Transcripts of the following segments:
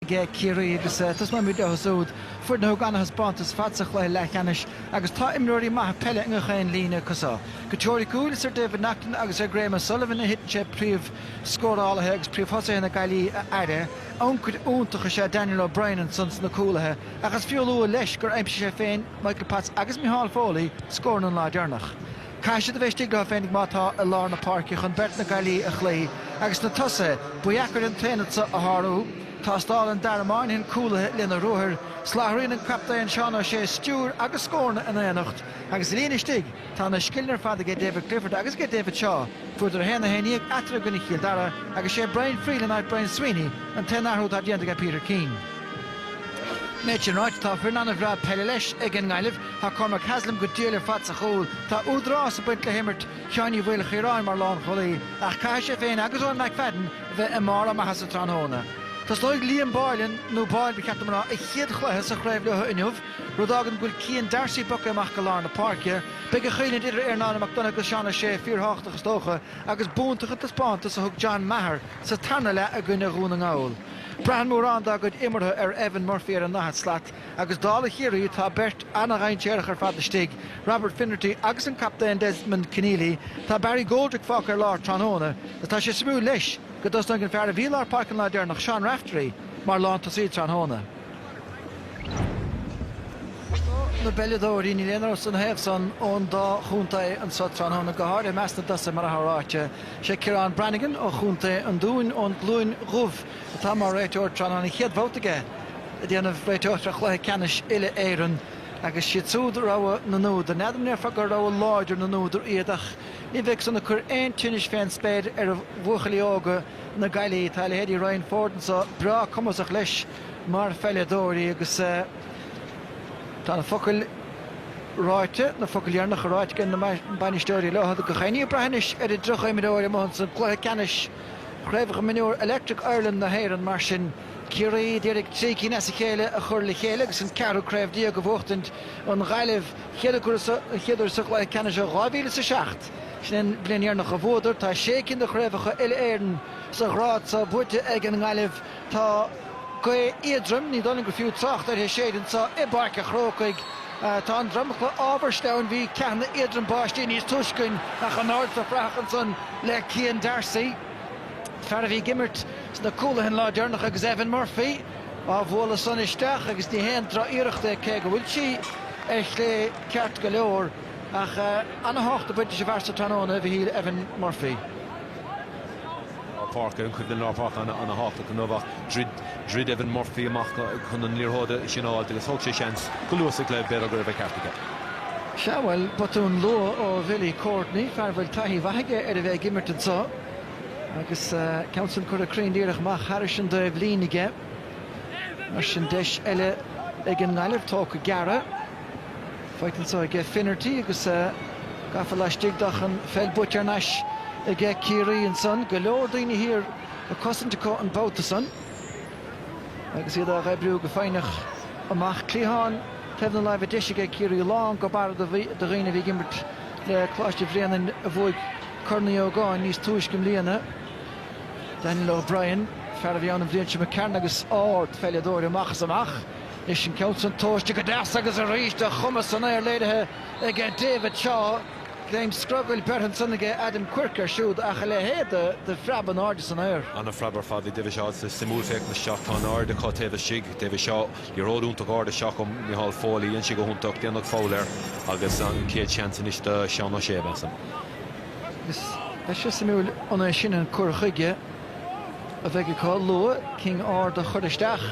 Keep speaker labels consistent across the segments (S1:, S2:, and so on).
S1: aige Ciarraí agus tosnóimid leo súd, foireann a thug an-thaispeántas ar fad sa chluiche leathcheannais agus tá imreoirí maithe peile i ngach aon líne acu san. Go teoiriciúil, is ar David Naughton agus ar Graham O'Sullivan a thiteann sé príomhscórálaithe agus príomhthosaithe na Gaillimhe a fhaire. Ancaire iontach is ea Daniel O'Brien ansan sna cúlaithe ach is fiú a lua leis gur aimsigh sé féin, Michael Potts agus Micheál Foley scóranna an lá deireanach. Caithfidh siad a bheith istigh leo féinig má tá i lár na páirce chun beirt na Gaillimhe a chloí agus sna tosaithe, ba dheacair an t-aonad seo a shárú. Tástálann Dara Moynihan cúlaithe lena ruathair, soláthraíonn an captaen Seán Ó Sé stiúir agus scóranna in aonacht agus sa líne istigh tá na scileanna ar fad aige David Clifford agus aige David Shaw. Fuaireadar 1-11 eatarthu i gcoinne Chill Dara agus sé Brian Friel in áit Brian Sweeney an t-aon athrú atá déanta aige Peter Keane. An méid sin ráite, tá foireann an-bhreá peile leis ag an nGaillimh. Tá Cormac Haslam go diail ar fad sa chúl. Tá údarás ag baint le himirt Sheáin Uí Mhaoilchiaráin mar lánchúlaí ach caithfidh sé féin agus Eoin McFadden a bheith i mbarr a maitheasa tráthnóna. Tosnóidh Liam Boylan, nó Boyle ba cheart dom a rá, a chéad chluiche sa chraobh leo inniu, rud a fhágann go bhfuil Cian D'Arcy bogtha amach go lár na páirce. Beidh an choimhlint idir Ernán McDonagh agus Seán Ó Sé fíorthábhachtach is dócha agus b'iontach an taispeántas a thug John Maher sa tarna leath i gcoinne Dhún na nGall. Braitheann mórán dá gcuid imeartha ar Evan Murphy ar an ndaichead slat. Agus dála Chiarraí, tá beirt ana-dhainséarach ar fad istigh, Robert Finnerty agus an captaen Desmond Conneely. Tá Barry Goldrick fágtha ar lár tráthnóna agus tá sé suimiúil leis go dtosnóidh an fear a bhí i lár páirce an lá deireanach, Seán Raftery, mar lántosaí tráthnóna. Scoth na bpeileadóirí, níl aon amhras ina thaobh san ón dá chontae anseo tráthnóna, go háirithe i measc na dtosaithe, mar atá ráite. Is é Ciarán Brannigan ó chontae an Dúin, ón gCluain Dhubh, atá mar réiteoir tráthnóna, an chéad bhabhta aige ag déanamh réiteoireachta ar chluiche ceannais uile-Éireann agus siad súd rogha na n-údar. N'fheadar, an ndéarfá gur rogha láidir na n-údar iad ach ní bheidh san ag cur aon tinnis fén spéir ar bhuachaillí óga na Gaillimhe. Tá leithéidí Ryan Forde anseo breá cumasach leis mar pheileadóirí agus tá na focail ráite, na focail dheireanacha ráite ag na bainisteoirí leo gach aon ní ag brath anois ar an dtríocha imreoir amuigh ansan. Cluiche ceannais. Chraobh Mhionúir Electric Ireland na hÉireann mar sin. Ciarraí a d'iarraidh trí cinn as a chéile a chur le chéile agus an ceathrú craobh déag a bhuachtaint, an Ghaillimh, an chéad uair sa chluiche ceannais ó 2000 is a seacht. Sin é an bhliain dheireanach a bhuadar. Tá sé cinn de chraobhacha Uile-Éireann sa ghrád seo buaite ag an nGaillimh, Tá gaoth éadrom, ní dóigh liom gur fiú trácht uirthi, ag séideadh anso i bPáirc a' Chrócaigh. Tá an dromchla ábhar sleamhain, bhí ceathanna éadroma báistí níos túisce ach in airde sna fraitheacha ansan le Cian D'Arcy, fear a bhí ag imirt sna cúlaithe an lá deireanach agus Evan Murphy á bhualadh san isteach agus ní haon droch-iarracht é cé go bhfuil sí ar chlé ceart go leor ach ana-thábhacht ag baint leis an bhfear so tráthnóna, a Mhichíl, Evan Murphy.
S2: Páirc ar an chuimhne lár páirce an-thábhachtach inniu ach dhruid Evan Murphy amach chun an liathróid sin a fháilt agus thóg sé seans go luath sa chluiche, b'fhéidir go raibh an ceart aige. Sea,
S1: bhuel, botún luath ó Bhilly Courtney, fear a bhfuil taithí mhaith aige ar a bheith ag imirt anseo, agus ceann san curtha cruinn díreach amach thairis an dtaobhlíne aige. Mar sin deis eile ag an nGaillimh, tógtha gearra. Faighte anso aige Finnerty agus gafa laistigh de ach an pheil buaite thar n-ais aige Ciarraí ansan. Go leor daoine thiar ag cosaint acu an babhta san agus iad á dh'oibriú go foighneach amach. Cliathán taobh na láimhe deise aige Ciarraí. Lán go barra de dhaoine a bhí ag imirt le Coláiste Bhréanainn a bhuaigh Corn Uí Ógáin níos túisce i mbliana. Daniel O'Brien, fear a bhí ann an bhliain seo d'imigh tharainn agus ardpheileadóir amach is amach. Is an ceann san tomhaiste go deas agus arís a chumas san aer léirithe aige David Shaw, greim scrogaill beirthe ansan aige Adam Quirke air siúd ach a leithéad de phreab in airde san aer. An-phreab ar fad ag David
S2: Shaw agus is suimiúil féachaint isteach, tá an airde acu taobh istigh, David Shaw, liathróid iontach ard isteach ó Micheál Foley, dhein sé go hiontach, déanadh foul air agus an chéad seans anois do Sheán Ó Sé a bheas ann. Is
S1: beidh sé suimiúil an é sin an cur chuige a bheidh acu go luath, cinn arda a chur isteach.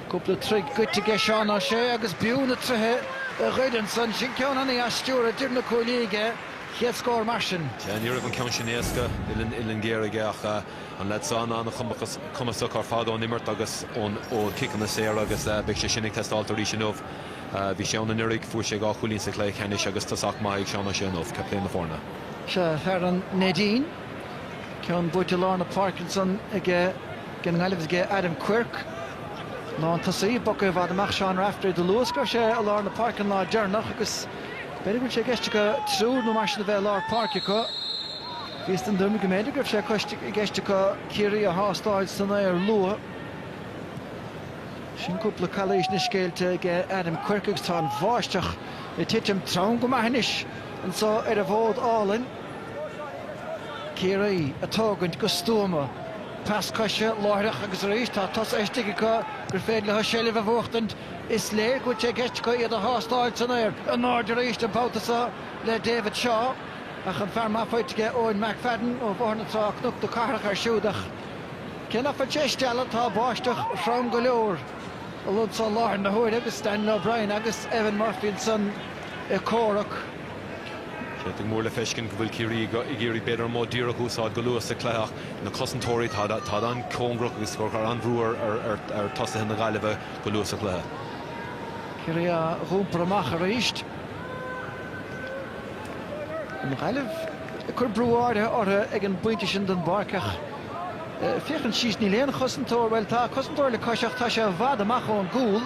S1: Cúpla troigh goidte aige Seán Ó Sé agus b'fhiú na troithe a ghoid ansan. Sin ceann an-dheas stiúrtha idir na cuaillí aige, chéad scór mar sin. Sea, ní raibh an ceann sin
S2: éasca, uillinn géar aige ach an leaid san an-chumasach ar fad ón imirt agus ón ó chiceanna saora agus beidh sé sin ag teastáilt arís inniu. Bhí sé ann anuraidh, fuair sé dhá chúilín sa chluiche ceannais agus tosach maith ag Seán Ó Sé inniu, captaen na foirne. Sea, fear an
S1: Neidín. Ceann buaite lár na páirce ansan ag an nGaillimh is ag Adam Quirke. Lán tosaí, bogtha i bhfad amach Seán Raftery. Do luas go raibh sé i lár na páirce an lá deireanach agus b'fhéidir go bhfuil sé i gceist acu triúr nó mar sin a bheith i lár páirce acu. Bhíos den dtuairim go mb'fhéidir go raibh sé i gceist acu Ciarraí a thástáil san aer luath. Sin cúpla calaois anois géillte ag Adam Quirke agus tá an bháisteach ag titim trom go maith anois anso ar an bhfód álainn. Ciarraí, ag tógaint go stuama, pas coise láithreach agus arís tá tosaithe istigh acu gur féidir leo seilbh a bhuachtaint. Is léir go bhfuil sé i gceist acu iad a thástáil san aer in airde arís an babhta seo le David Shaw ach an fear maith faighte aige Eoin McFadden ó Bhóthar na Trá-Cnoc na Cathrach air siúd ach cé ná fuil sé ag stealladh tá báisteach throm go leor i láthair na huaire agus Daniel O'Brien agus Evan Murphy ansan ag comhrac.
S2: B'fhéidir go mór le feiscint go bhfuil Ciarraí ag iarraidh b'fhéidir an modh díreach a úsáid go luath sa chluiche ach na cosantóirí táid an-chóngarach agus ag cur an-bhrú ar tosaithe na Gaillimhe go luath sa chluiche. Ciarraí
S1: á dh'iompar amach arís. An Ghaillimh ag cur brú áirithe orthu ag an bpointe sin den bpáirc ach féachaint síos níl aon chosantóir, bhuel tá cosantóir le cois ach tá sé i bhfad amach ón gcúl,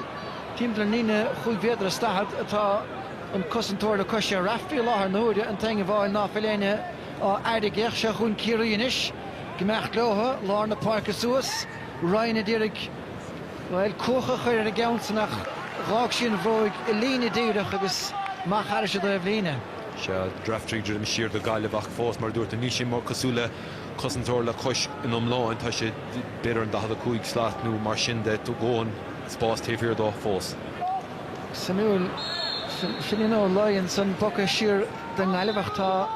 S1: timpeall ar an líne chúig mhéadar is daichead atá. an cosantóir le cois é Raftery i láthair na huaire, an t-éinne amháin ná fuil éinne á fhaire ach, seo chugainn Ciarraí anois, ag imeacht leotha, lár na páirce suas, Ryan a d'iarraidh, bhuel, cuach a chur ar a gceann san ach d'fhág sí an bhróig i líne díreach agus amach thairis an dtaobhlíne. Seo
S2: Raftery ag druidim siar do Gaillimh ach fós, mar a dúirt, níl sé mar cosúil le cosantóir le cois in iomlán, tá sé b'fhéidir an 45 slat nó mar sin de, tá an-spás taobh thiar dó fós.
S1: Suimiúil. Finian Ó Laoi ansan bogtha siar don nGaillimh ach tá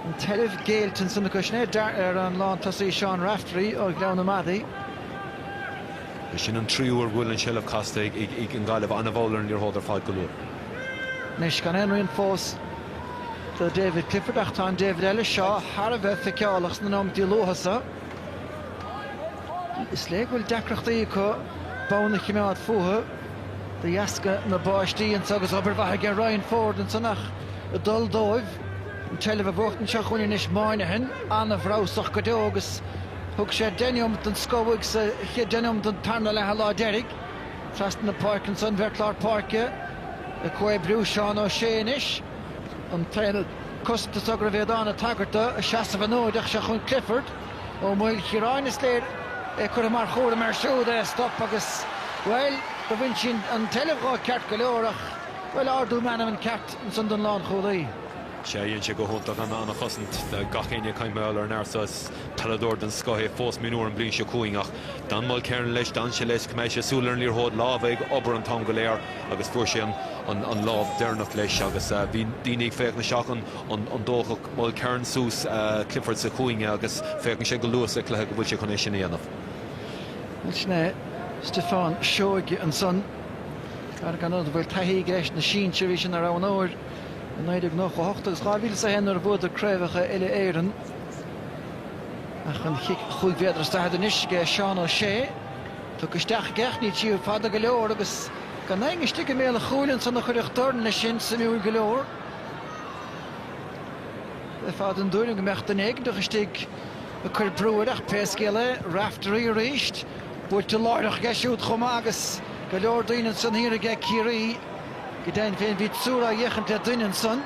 S1: an tseilbh géillte ansan acu. Sin é deartha ar an lántosaí Seán Raftery ó Ghleann na Madadh.
S2: B'shin an tríú uair go bhfuil an tseilbh casta ag an Gaillimh. Ana-mhall ar an liathróid ar fad go luath. Anois
S1: gan aon rian fós do David Clifford ach tá an David eile seo thar a bheith feiceálach sna nóimeataí luatha sa. Is léir go bhfuil deacrachtaí acu bonn a choimeád fúthu de dheasca na báistí anseo agus obair mhaith aige Ryan Forde ansan ach ag dul dóibh an tseilbh a bhuachtaint seo chugainn anois Moynihan an-bhreabhsach go deo agus thug sé deich neomat den scoth uaidh sa chéad deich neomat den tarna leath an lá deiridh trasna na páirce ansan an bheirt lár páirce ag comhoibriú Seán O'Shea anois. an t-aonad cosanta so go raibh Aodán ag tagairt dó ag seasamh an fhóid ach seo chugainn Clifford, Ó Maoilchiaráin, is léir, é curtha mar chúram air siúd é a stop agus, bhuel, do bhain sin an tseilbh dhó ceart go leor ach, bhuel, ardú meanman ceart ansan don lánchúlaí? Sea, dhein
S2: sé go hiontach ana chosaint, gach éinne ag caint mar gheall ar an fhear so, is peileadóir den scoth é fós mionúr an bhliain seo chugainn ach d'fhan Mulkerrin leis, d'fhan sé leis, choimeád sé súil ar an liathróid, lámha ag obair an t-am go léir. agus fuair sé an lámh deireanach leis agus bhí daoine ag féachaint isteach an dtógfadh Mulkerrin suas Clifford sa chúinne agus féachann sé go luath sa chluiche go bhfuil sé chun é sin a dhéanamh. Sin
S1: é Stiofán Seoige ansan, fear go bhfuil taithí aige leis na sinsir, bhí sé ina roghnóir i 1998 agus 2001 nuair a bhuadar craobhacha uile Éireann. Ach an chic chúig mhéadar is daichead anois aige Seán Ó Sé. Tugadh isteach i gceart, ní sí fada go leor agus gan éinne istigh i mbéal a chúil ansan a chuirfeadh dorn leis sin, suimiúil go leor. Bheadh an tuairim go mbeadh duine éigneach istigh ag cuir brú air ach pé scéal é, Raftery arís, buaite láithreach aige siúd chomh maith agus go leor daoine ansan thiar aige Ciarraí. Go deimhin féin bhí triúr ag féachaint ar dhuine ansan,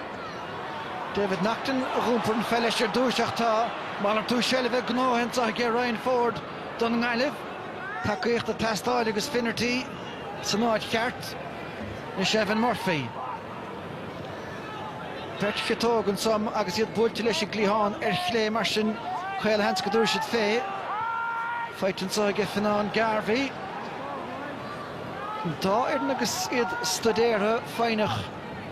S1: David Naughton, a dh'iompair an pheil leis ar dtúis ach tá malartú seilbhe, gnóthaithe, anseo aige Ryan Forde don nGaillimh. Tacaíocht ag teastáil agus Finnerty san áit cheart anois Evan Murphy. Beirt chiotóg anseo agus iad buailte leis an gcliathán ar chlé mar sin caolsheans go dtabharfaidh siad fé. Faighte anseo aige Finian Garvey. An dá fhoireann agus iad stuidéartha, foighneach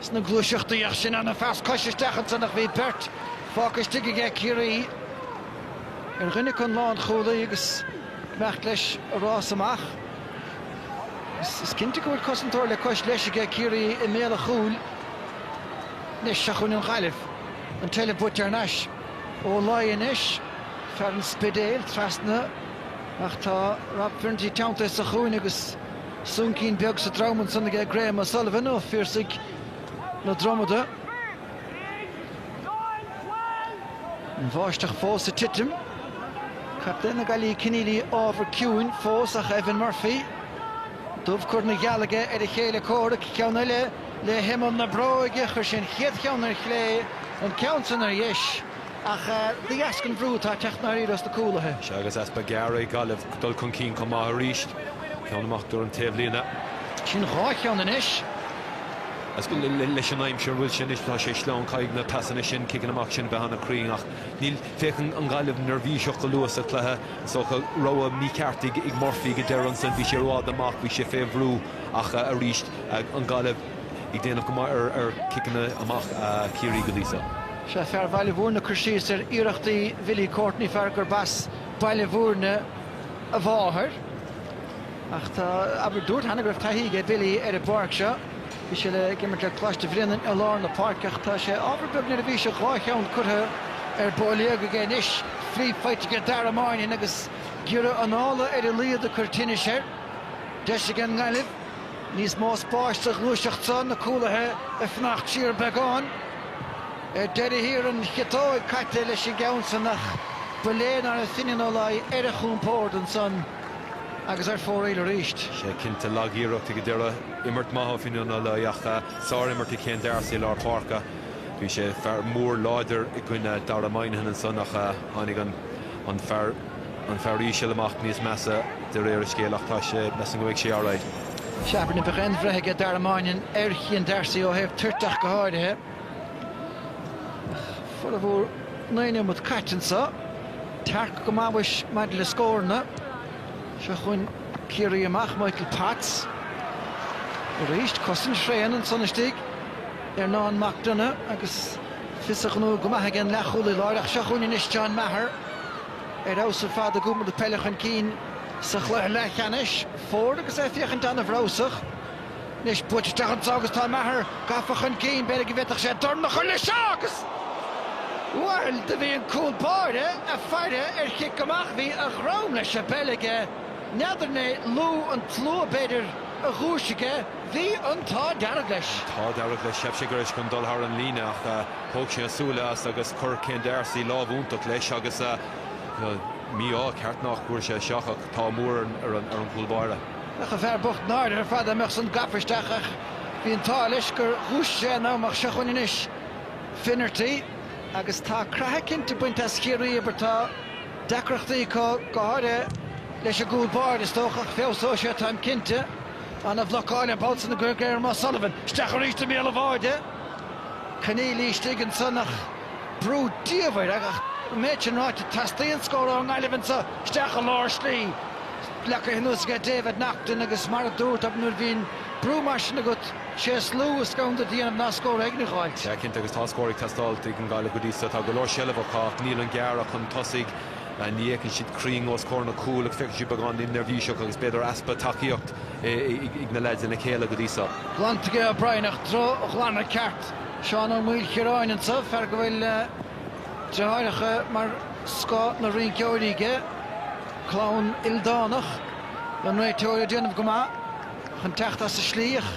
S1: sna gluaiseachtaí ach sin an-phas cois isteach ansan ach bhí beirt fágtha istigh aige Ciarraí. Ar dhuine acu an lánchúlaí agus imeacht leis a rás amach. Is cinnte go bhfuil cosantóir le cois leis aige, Ciarraí i mbéal a chúil anois, seo chugainn an Ghaillimh. An duel buaite thar n-ais, Ó Laoi anois, fear an Spidéil, trasna ach tá Rob Finnerty teanntaithe sa chúinne agus soncín beag sa drom ansan aige, Graham O'Sullivan ó Phiarsaigh na Dromada. An bháisteach fós ag titim. Captaen na Gaillimhe Conneely ábhar ciúin fós ach Evan Murphy dubh curtha ina gheal aige ar a chéile comhrac ceann eile le himeall na bróige chuir sé an chéad cheann ar chlé an ceann san ar dheis. Ach de dheasca an bhrú atá ag
S2: teacht
S1: ndáiríre as
S2: na cúlaithe. Sea
S1: agus
S2: easpa
S1: garaíochta
S2: ag
S1: Gaillimh
S2: dul
S1: chun
S2: cinn chomh
S1: maith
S2: arís. Ceann amach thar an taobhlíne. Sin dhá
S1: cheann anois.
S2: Leis an aimsir mar a bhfuil sé anois tá sé sleamhain. Caithfidh na pasanna sin, ciceanna amach sin a bheith an-chruinn ach níl. Féachann an Gaillimh neirbhíseach go luath sa chluiche. Is dócha rogha mícheart ag Murphy ag an deireadh ansin. Bhí sé i bhfad amach, bhí sé fé bhrú ach arís an Gaillimh. Ag déanamh go maith ar chiceanna amach Chiarraí go dtí seo. Sea, fear
S1: Bhaile Bhúirne ag cur síos ar iarrachtaí Bhilly Courtney, fear gurb as Baile Bhúirne a mháthair. Ach tá, abair, dúirt cheana go raibh taithí aige Billy ar an bpáirc seo. Bhí sé ag imirt le Coláiste Bhréanainn i lár na páirce ach tá sé, ábhar beag neirbhíseach, dhá cheann curtha ar bóiléog aige anois. Free faighte aige Dara Moynihan agus giorra anála ar a laghad ag cur tinnis air. Deis ag an nGaillimh. Níos mó spáis sa ghluaiseacht seo, na cúlaithe ag fanacht siar beagán. Ar deireadh thiar an chiotóg caite leis an gceann san ach ba léir nár fhan Finian Ó Laoi ar a chompord ansan agus ar fóraoil arís. Sea, cinnte,
S2: lag-iarracht ag an deireadh. Imirt maith ó Finian Ó Laoi ach sár-imirt ag Shane Darcy i lár páirce. Bhí sé, fear mór láidir, i gcoinne Dara Moynihan ansan ach tháinig an fear, an fear íseal amach níos measa de réir a scéil, ach tá sé, measaim go mbeidh sé alright. Cheapfainn ná
S1: beadh aon bhreith aige Dara Moynihan, ar Chian D'Arcy ó thaobh toirte ach go háirithe. Formhór naoi neomat caite anseo. Tearc go maith mhuis maidir le scóranna. Seo chugainn Ciarraí amach, Michael Potts. Arís, cosaint thréan ansan istigh. Ernán Mac Donagh agus fios a ghnó go maith aige an leathchúlaí láir ach seo chugainn anois John Maher. ar fheabhas ar fad ag iompar na peile chun cinn sa chluiche leathcheannais. Forde agus é ag féachaint an-bhreabhsach. Anois buailte isteach anseo agus tá Maher gafa chun cinn. B'fhéidir go bhféadfadh sé dorn a chur leis seo agus, bhuel, do bhí an cúl báire ag faire, ar chic amach. Bhí a dhroim leis an bpeil aige. N'fheadar an é liú an tslua, b'fhéidir, a dhúisigh é. Bhí an t-ádh dearg leis. An t-ádh dearg leis. Cheap
S2: sé go raibh sé chun dul thar an líne ach thóg sé a súile as agus chuir Cian D'Arcy lámh iontach leis agus mí-ádh ceart nach bhfuair sé isteach ach an t-ádh mór ar an gcúl báire. Bheadh an fear bocht
S1: náirithe ar fad dá mbeadh san gafa isteach ach bhí an t-ádh leis gur dhúisigh sé in am ach seo chugainn anois Finnerty agus tá creathadh cinnte bainte as Chiarraí. Abair tá deacrachtaí acu go háirithe leis an gcúl báire is dócha ach feabhsóidh sé táim cinnte. An-bhlocáil, ambaist, ansan ag Graham O'Sullivan isteach arís i mbéal an bháire. Conneely istigh ansan ach brú diamhair ach an méid sin ráite teastaíonn scór ón nGaillimh anseo isteach i lár slí. Leagtha anuas aige David Naughton agus mar a dúirt nuair a bhíonn brú mar sin agat sé is lú is gann duit a dhéanamh ná scór éigin a fháil. Sea cinnte agus tá scór
S2: ag teastáil ag an nGaillimh go dtí so. Tá go leor seilbh acu ach níl an gearradh chun tosaigh. Ní fhéachann siad cruinn os comhair na cúil agus feiceann siad beagán neirbhíseach agus b'fhéidir easpa tacaíocht ag na lads lena chéile go dtí so. Glanfaidh Brian
S1: ach drochghlanadh ceart. Seán Ó Maoilchiaráin anseo, fear go bhfuil deartháireacha mar scoth na rinceoirí aige, clann ildánach an réiteoir ag déanamh go maith chun teacht as an slí ach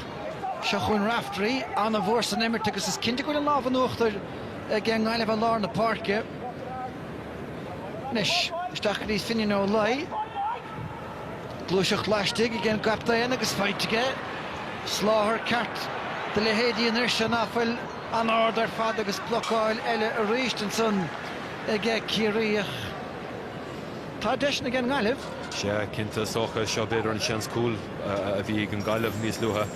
S1: seo chugainn Raftery, an-mhór san imirt agus is cinnte go bhfuil an lámh in uachtar aigen nGaillimh ar lár na páirce. Anois, isteach go dtí Finnian Ó Laoi. Gluaiseacht laistigh aigen gcaptaen agus faighte aige. Soláthar ceart do leithéidí an fhir seo ná fuil an-ard ar fad agus blocáil eile arís ansan ag Ciarraí ach tá deiseanna ag an nGaillimh. Sea, cinnte, is
S2: dócha, seo b'fhéidir an seans cúil. a bhí ag an nGaillimh níos luaithe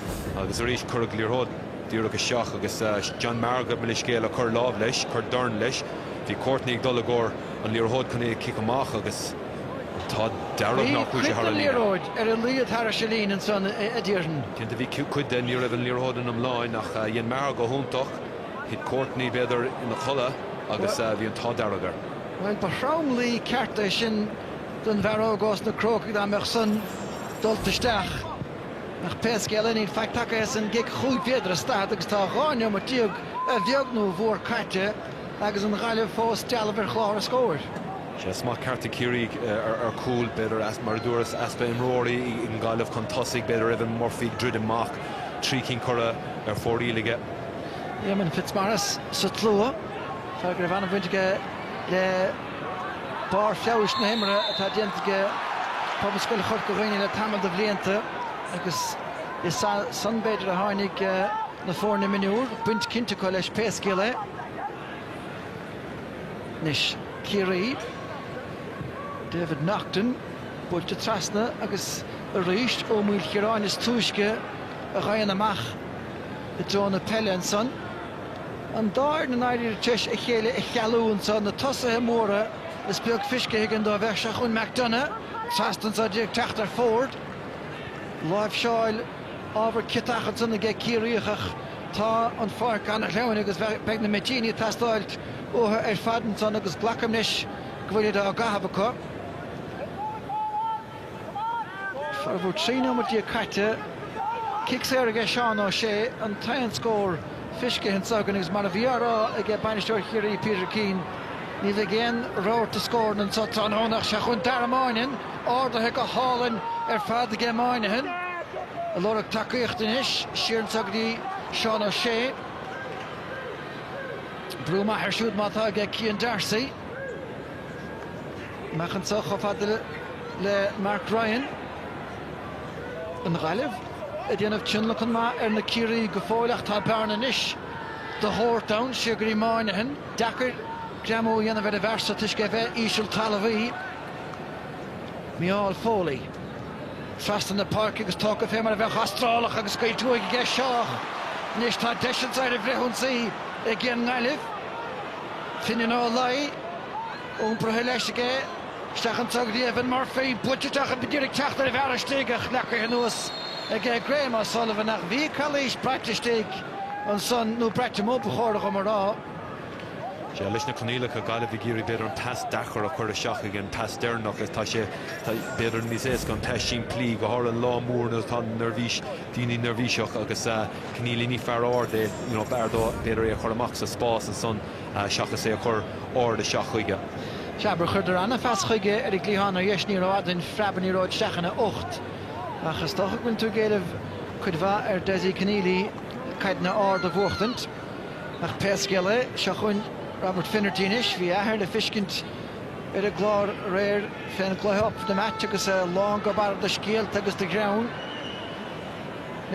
S2: agus arís cuireadh liathróid díreach isteach agus John Maher, gabh mo leithscéal, a chuir lámh leis, chuir dorn leis. Bhí Courtney ag dul i gcomhair an liathróid chun í a chic amach agus an t-ádh dearg nár chuaigh sé thar an líne. Bhí cuid den liathróid ar a
S1: laghad thairis an líne ansan a déarfainn. Cinnte bhí cuid
S2: de, ní raibh an liathróid in iomlán ach dhein Maher go hiontach, thit Courtney b'fhéidir ina chodladh agus bhí an t-ádh dearg air. Bhuel ba
S1: thromluí ceart é sin. don bhfear óg ós na Crócaigh dá mbeadh san dulta isteach. Ach pé scéal é níl faic tagtha as an gcic chúig mhéadar is daichead agus tá dhá neomat déag a bheag nó a mhór caite agus an Ghaillimh fós dealbh ar chlár a scóir. Sea smacht
S2: ceart ag Ciarraí ar cúl, b'fhéidir, mar a dúras, easpa imreoirí ag an nGaillimh chun tosaigh, b'fhéidir Evan Murphy ag druidim amach, trí cinn curtha ar fóraoil aige. Éamonn
S1: Fitzmaurice sa tslua, fear go raibh an-bhaint aige le. Barr feabhais na himeartha atá déanta aige Pobalscoil Chorca Dhuibhne le tamall de bhlianta agus is as san b'fhéidir a tháinig na foirne mionúr, baint cinnte acu leis pé scéal é. Anois Ciarraí, David Naughton buailte trasna agus arís Ó Maoilchiaráin is túisce a ghabhann amach i dtreo na peile ansan. an dá fhoireann i ndáiríre tar éis a chéile a chealú anseo, na tosaithe móra, is beag fiscithe againn dóibh, ach seo chugainn McDonagh trasna anseo agus é ag teacht ar Forde, láimhseáil ábhar ciotach ansan aige Ciarraíoch ach tá an pháirc ana-shleamhain agus beidh na mitíní ag teastáil uathu ar fad ansan agus glacaim leis go bhfuilid á gcaitheamh acu. Formhór trí nóiméad déag caite. Cic saor aige Seán O'Shea, an t-aon scór fiscithe anseo againn agus mar a bhí á rá aige bainisteoir Chiarraí Peter Keane, ní bheidh aon rabharta scóranna anseo tráthnóna ach seachain Dara Moynihan, ardaithe go hálainn ar fad aige Moynihan ag lorg tacaíochta anois, siar anseo go dtí Seán O'Shea. Brú maith air siúd má tá aige Cian D'Arcy. Amach anseo chomh fada le Mark Ryan, an Ghaillimh, a dhéanamh tionlacan maith ar na Ciarraígh go fóill ach tá bearna anois de shórt ann, siar go dtí Moynihan. Deacair greamú a dhéanamh ar an bhfear so toisc é bheith íseal talmhaí. Micheál Foley, trasna na páirce agus tógtha fé mar a bheadh Astrálach agus Gaeil Tuaithe aige isteach. Anois tá deis anseo ar an bhfrithionsaí ag an nGaillimh. Finian Ó Laoi iompraithe leis aige isteach anso go dtí Evan Murphy, buailte isteach b'fhéidir ag teacht ar an bhfear istigh, ach leagaithe anuas aige Graham O'Sullivan, ach bhí calaois braite istigh ansan, nó braite amuigh ba chóra dhom a rá.
S2: Sea, leis na coinníollacha, Gaillimh ag iarraidh b'fhéidir an pas deacair a chur isteach ag an pas deireanach is tá sé b'fhéidir níos éasca an pas simplí, go háirithe lá mór nuair atá an neirbhís, daoine neirbhíseach agus Conneely ní fear ard é you know b'fhearr dó b'fhéidir é a chur amach sa spás ansan seachas é a chur ard isteach chuige. Sea mar chuireadar
S1: an-phas chuige ar an gcliathán ar dheis ní raibh ard an phreab ní raibh isteach ina ucht ach is dócha go bhfuil tú ag éileamh cuid mhaith ar Desi Conneely caideanna ard a bhuachtaint ach pé scéal é seo chugainn Robert Finnerty anois bhí a athair le feiscint ar an gclár aréir fén gcluiche Up for the Match agus é lán go barra do scéalta agus do ghreann.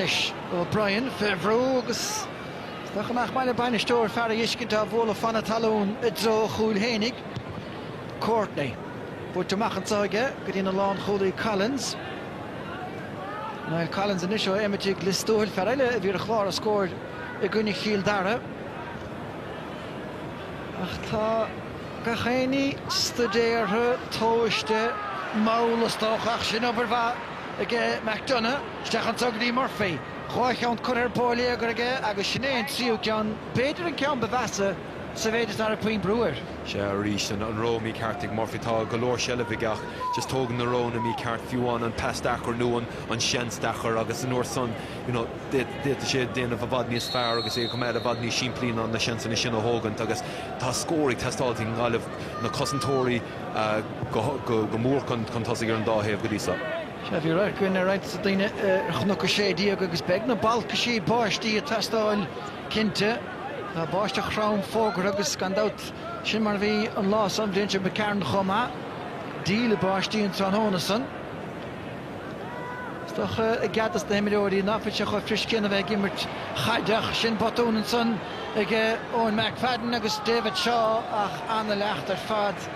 S1: Anois O'Brien fé bhrú agus is dócha nach maith le bainisteoir fear a fheiscint á bhualadh fan na talún i dtreo a chúil fhéinig. Courtney. Buailte amach anso aige go dtí an lánchúlaí Collins. Niall Collins anois ó Emmetigh Lios Tuathail, fear eile a bhí ar chlár an scóir i gcoinne Chill Dara. Ach tá gach éinní stuidéartha, tomhaiste, mall is dócha ach sin obair mhaith. ag McDonagh, isteach anso go dtí Murphy. Dhá cheann curtha ar bóiléagar aige agus sin é an tríú ceann, b'fhéidir an ceann ba mheasa sa mhéid is nach raibh puinn brú air. Sea, arís
S2: an rogha mícheart ag Murphy. Tá go leor seilbh aige ach just tógann na roghanna mícheart, fiú amháin an pas deacair nó an seans deacair agus an uair san, you know, d'fhéadfadh sé déanamh i bhfad níos fearr agus é a choimeád i bhfad níos simplí ná na seansanna sin a thógaint agus tá scór ag teastáil ag an nGaillimh, na cosantóirí, go mór chun tosaigh ar an dá thaobh go dtí so. Sea, bhí radharc
S1: againn ar roinnt daoine ar Chnoc 16 agus beidh na balcaisí báistí ag teastáil cinnte. Tá báisteach throm fógartha agus gan dabht sin mar a bhí an lá san, an bhliain sin, Mc Carron chomh maith. Díle báistí an tráthnóna san. Is dócha, i gcead dos na himreoirí, ná fuil sé chomh fuirist sin a bheith ag imirt chaide ach sin botún ansan ag Eoin McFadden agus David Shaw ach an-leacht ar fad.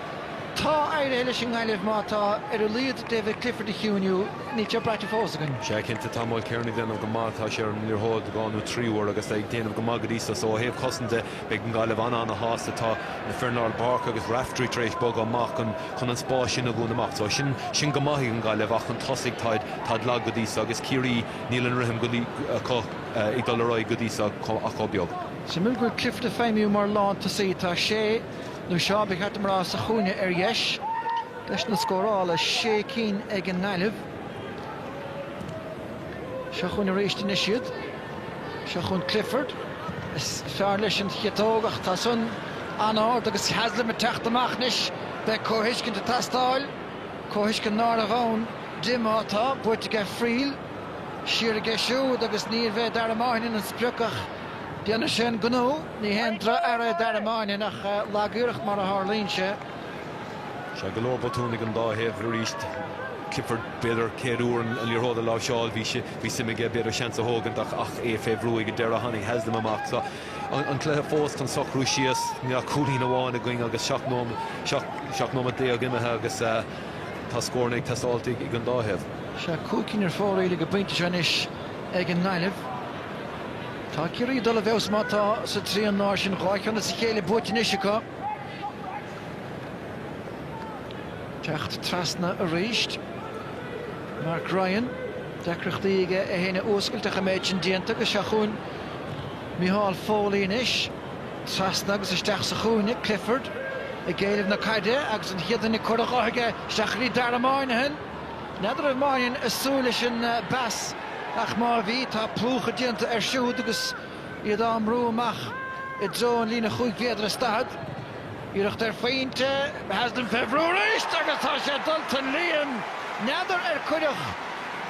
S1: Tá éirithe leis an nGaillimh má tá ar a laghad David Clifford a chiúnú, níl sé braite fós againn. Sea, cinnte, tá
S2: Mulkerrin ag déanamh go maith, tá sé ar an liathróid dhá nó trí uair agus é ag déanamh go maith go dtí so, so ó thaobh cosanta de beidh an Gaillimh an-an-shásta. Tá na fir i lár páirce agus Raftery tar éis bogadh amach. chun an spáis sin a dhúnadh amach. So, sin, sin go maith ag an Gaillimh ach chun tosaigh táid, táid lag go dtí so agus Ciarraí níl an rithim go dtí, acu ag dul ar aghaidh go dtí so chomh, ach chomh beag. Suimiúil go bhfuil Clifford
S1: ag feidhmiú mar lántosaí. Tá Shea, nó Shaw, ba cheart dom a rá, sa chúinne ar dheis. Deiseanna scórála, sé cinn ag an nGaillimh. Seo chugainn arís anois iad. Seo chugainn Clifford. Is fearr leis an chiotóg ach tá san an-ard agus Haslam ag teacht amach anois. Beidh comhthuiscint ag teastáil, comhthuiscint nárbh ann di má tá buaite aige Friel. Siar aige siúd agus níorbh é Dara Moynihan an sprioc ach déanfaidh sé an gnó. Ní haon droch-earra é Dara Moynihan ach lag-iarracht mar a tharlaíonn sé.
S2: Seo go leor botúin ag an dá thaobh arís. Clifford b'fhéidir céad uair an liathróid a láimhseáil. Bhí sé. Bhí suim aige b'fhéidir seans a thógaint ach é fé bhrú ag an deireadh tháinig Haslam amach. Tá an cluiche fós chun socrú síos, níl ach cúilín amháin againn agus seacht nóimeat déag imithe agus tá scóranna ag teastáilt ag an dá thaobh.
S1: Sea, cúig cinn ar fóraoil ag an bpointe seo anois ag an nGaillimh. Tá Ciarraí ag dul i bhfeabhas má tá sa trian láir sin dhá cheann as a chéile buaite anois acu. Teacht trasna arís. Mark Ryan, deacrachtaí aige é féin a fhuascailt ach an méid sin déanta agus seo chugainn Micheál Foley anois. Trasna agus isteach sa chúinne, Clifford ag éileamh na caide agus an chéad duine curtha dhe aige isteach go dtí Dara Moynihan. N'fheadar an raibh Moynihan ag súil leis an bpas ach má bhí, tá plúchadh déanta air siúd agus iad á mbrú amach i dtreo an líne chúig mhéadar is daichead. Iarracht ar phointe Haslam fé bhrú arís agus tá sé dulta don líon, n'fheadar ar cuireadh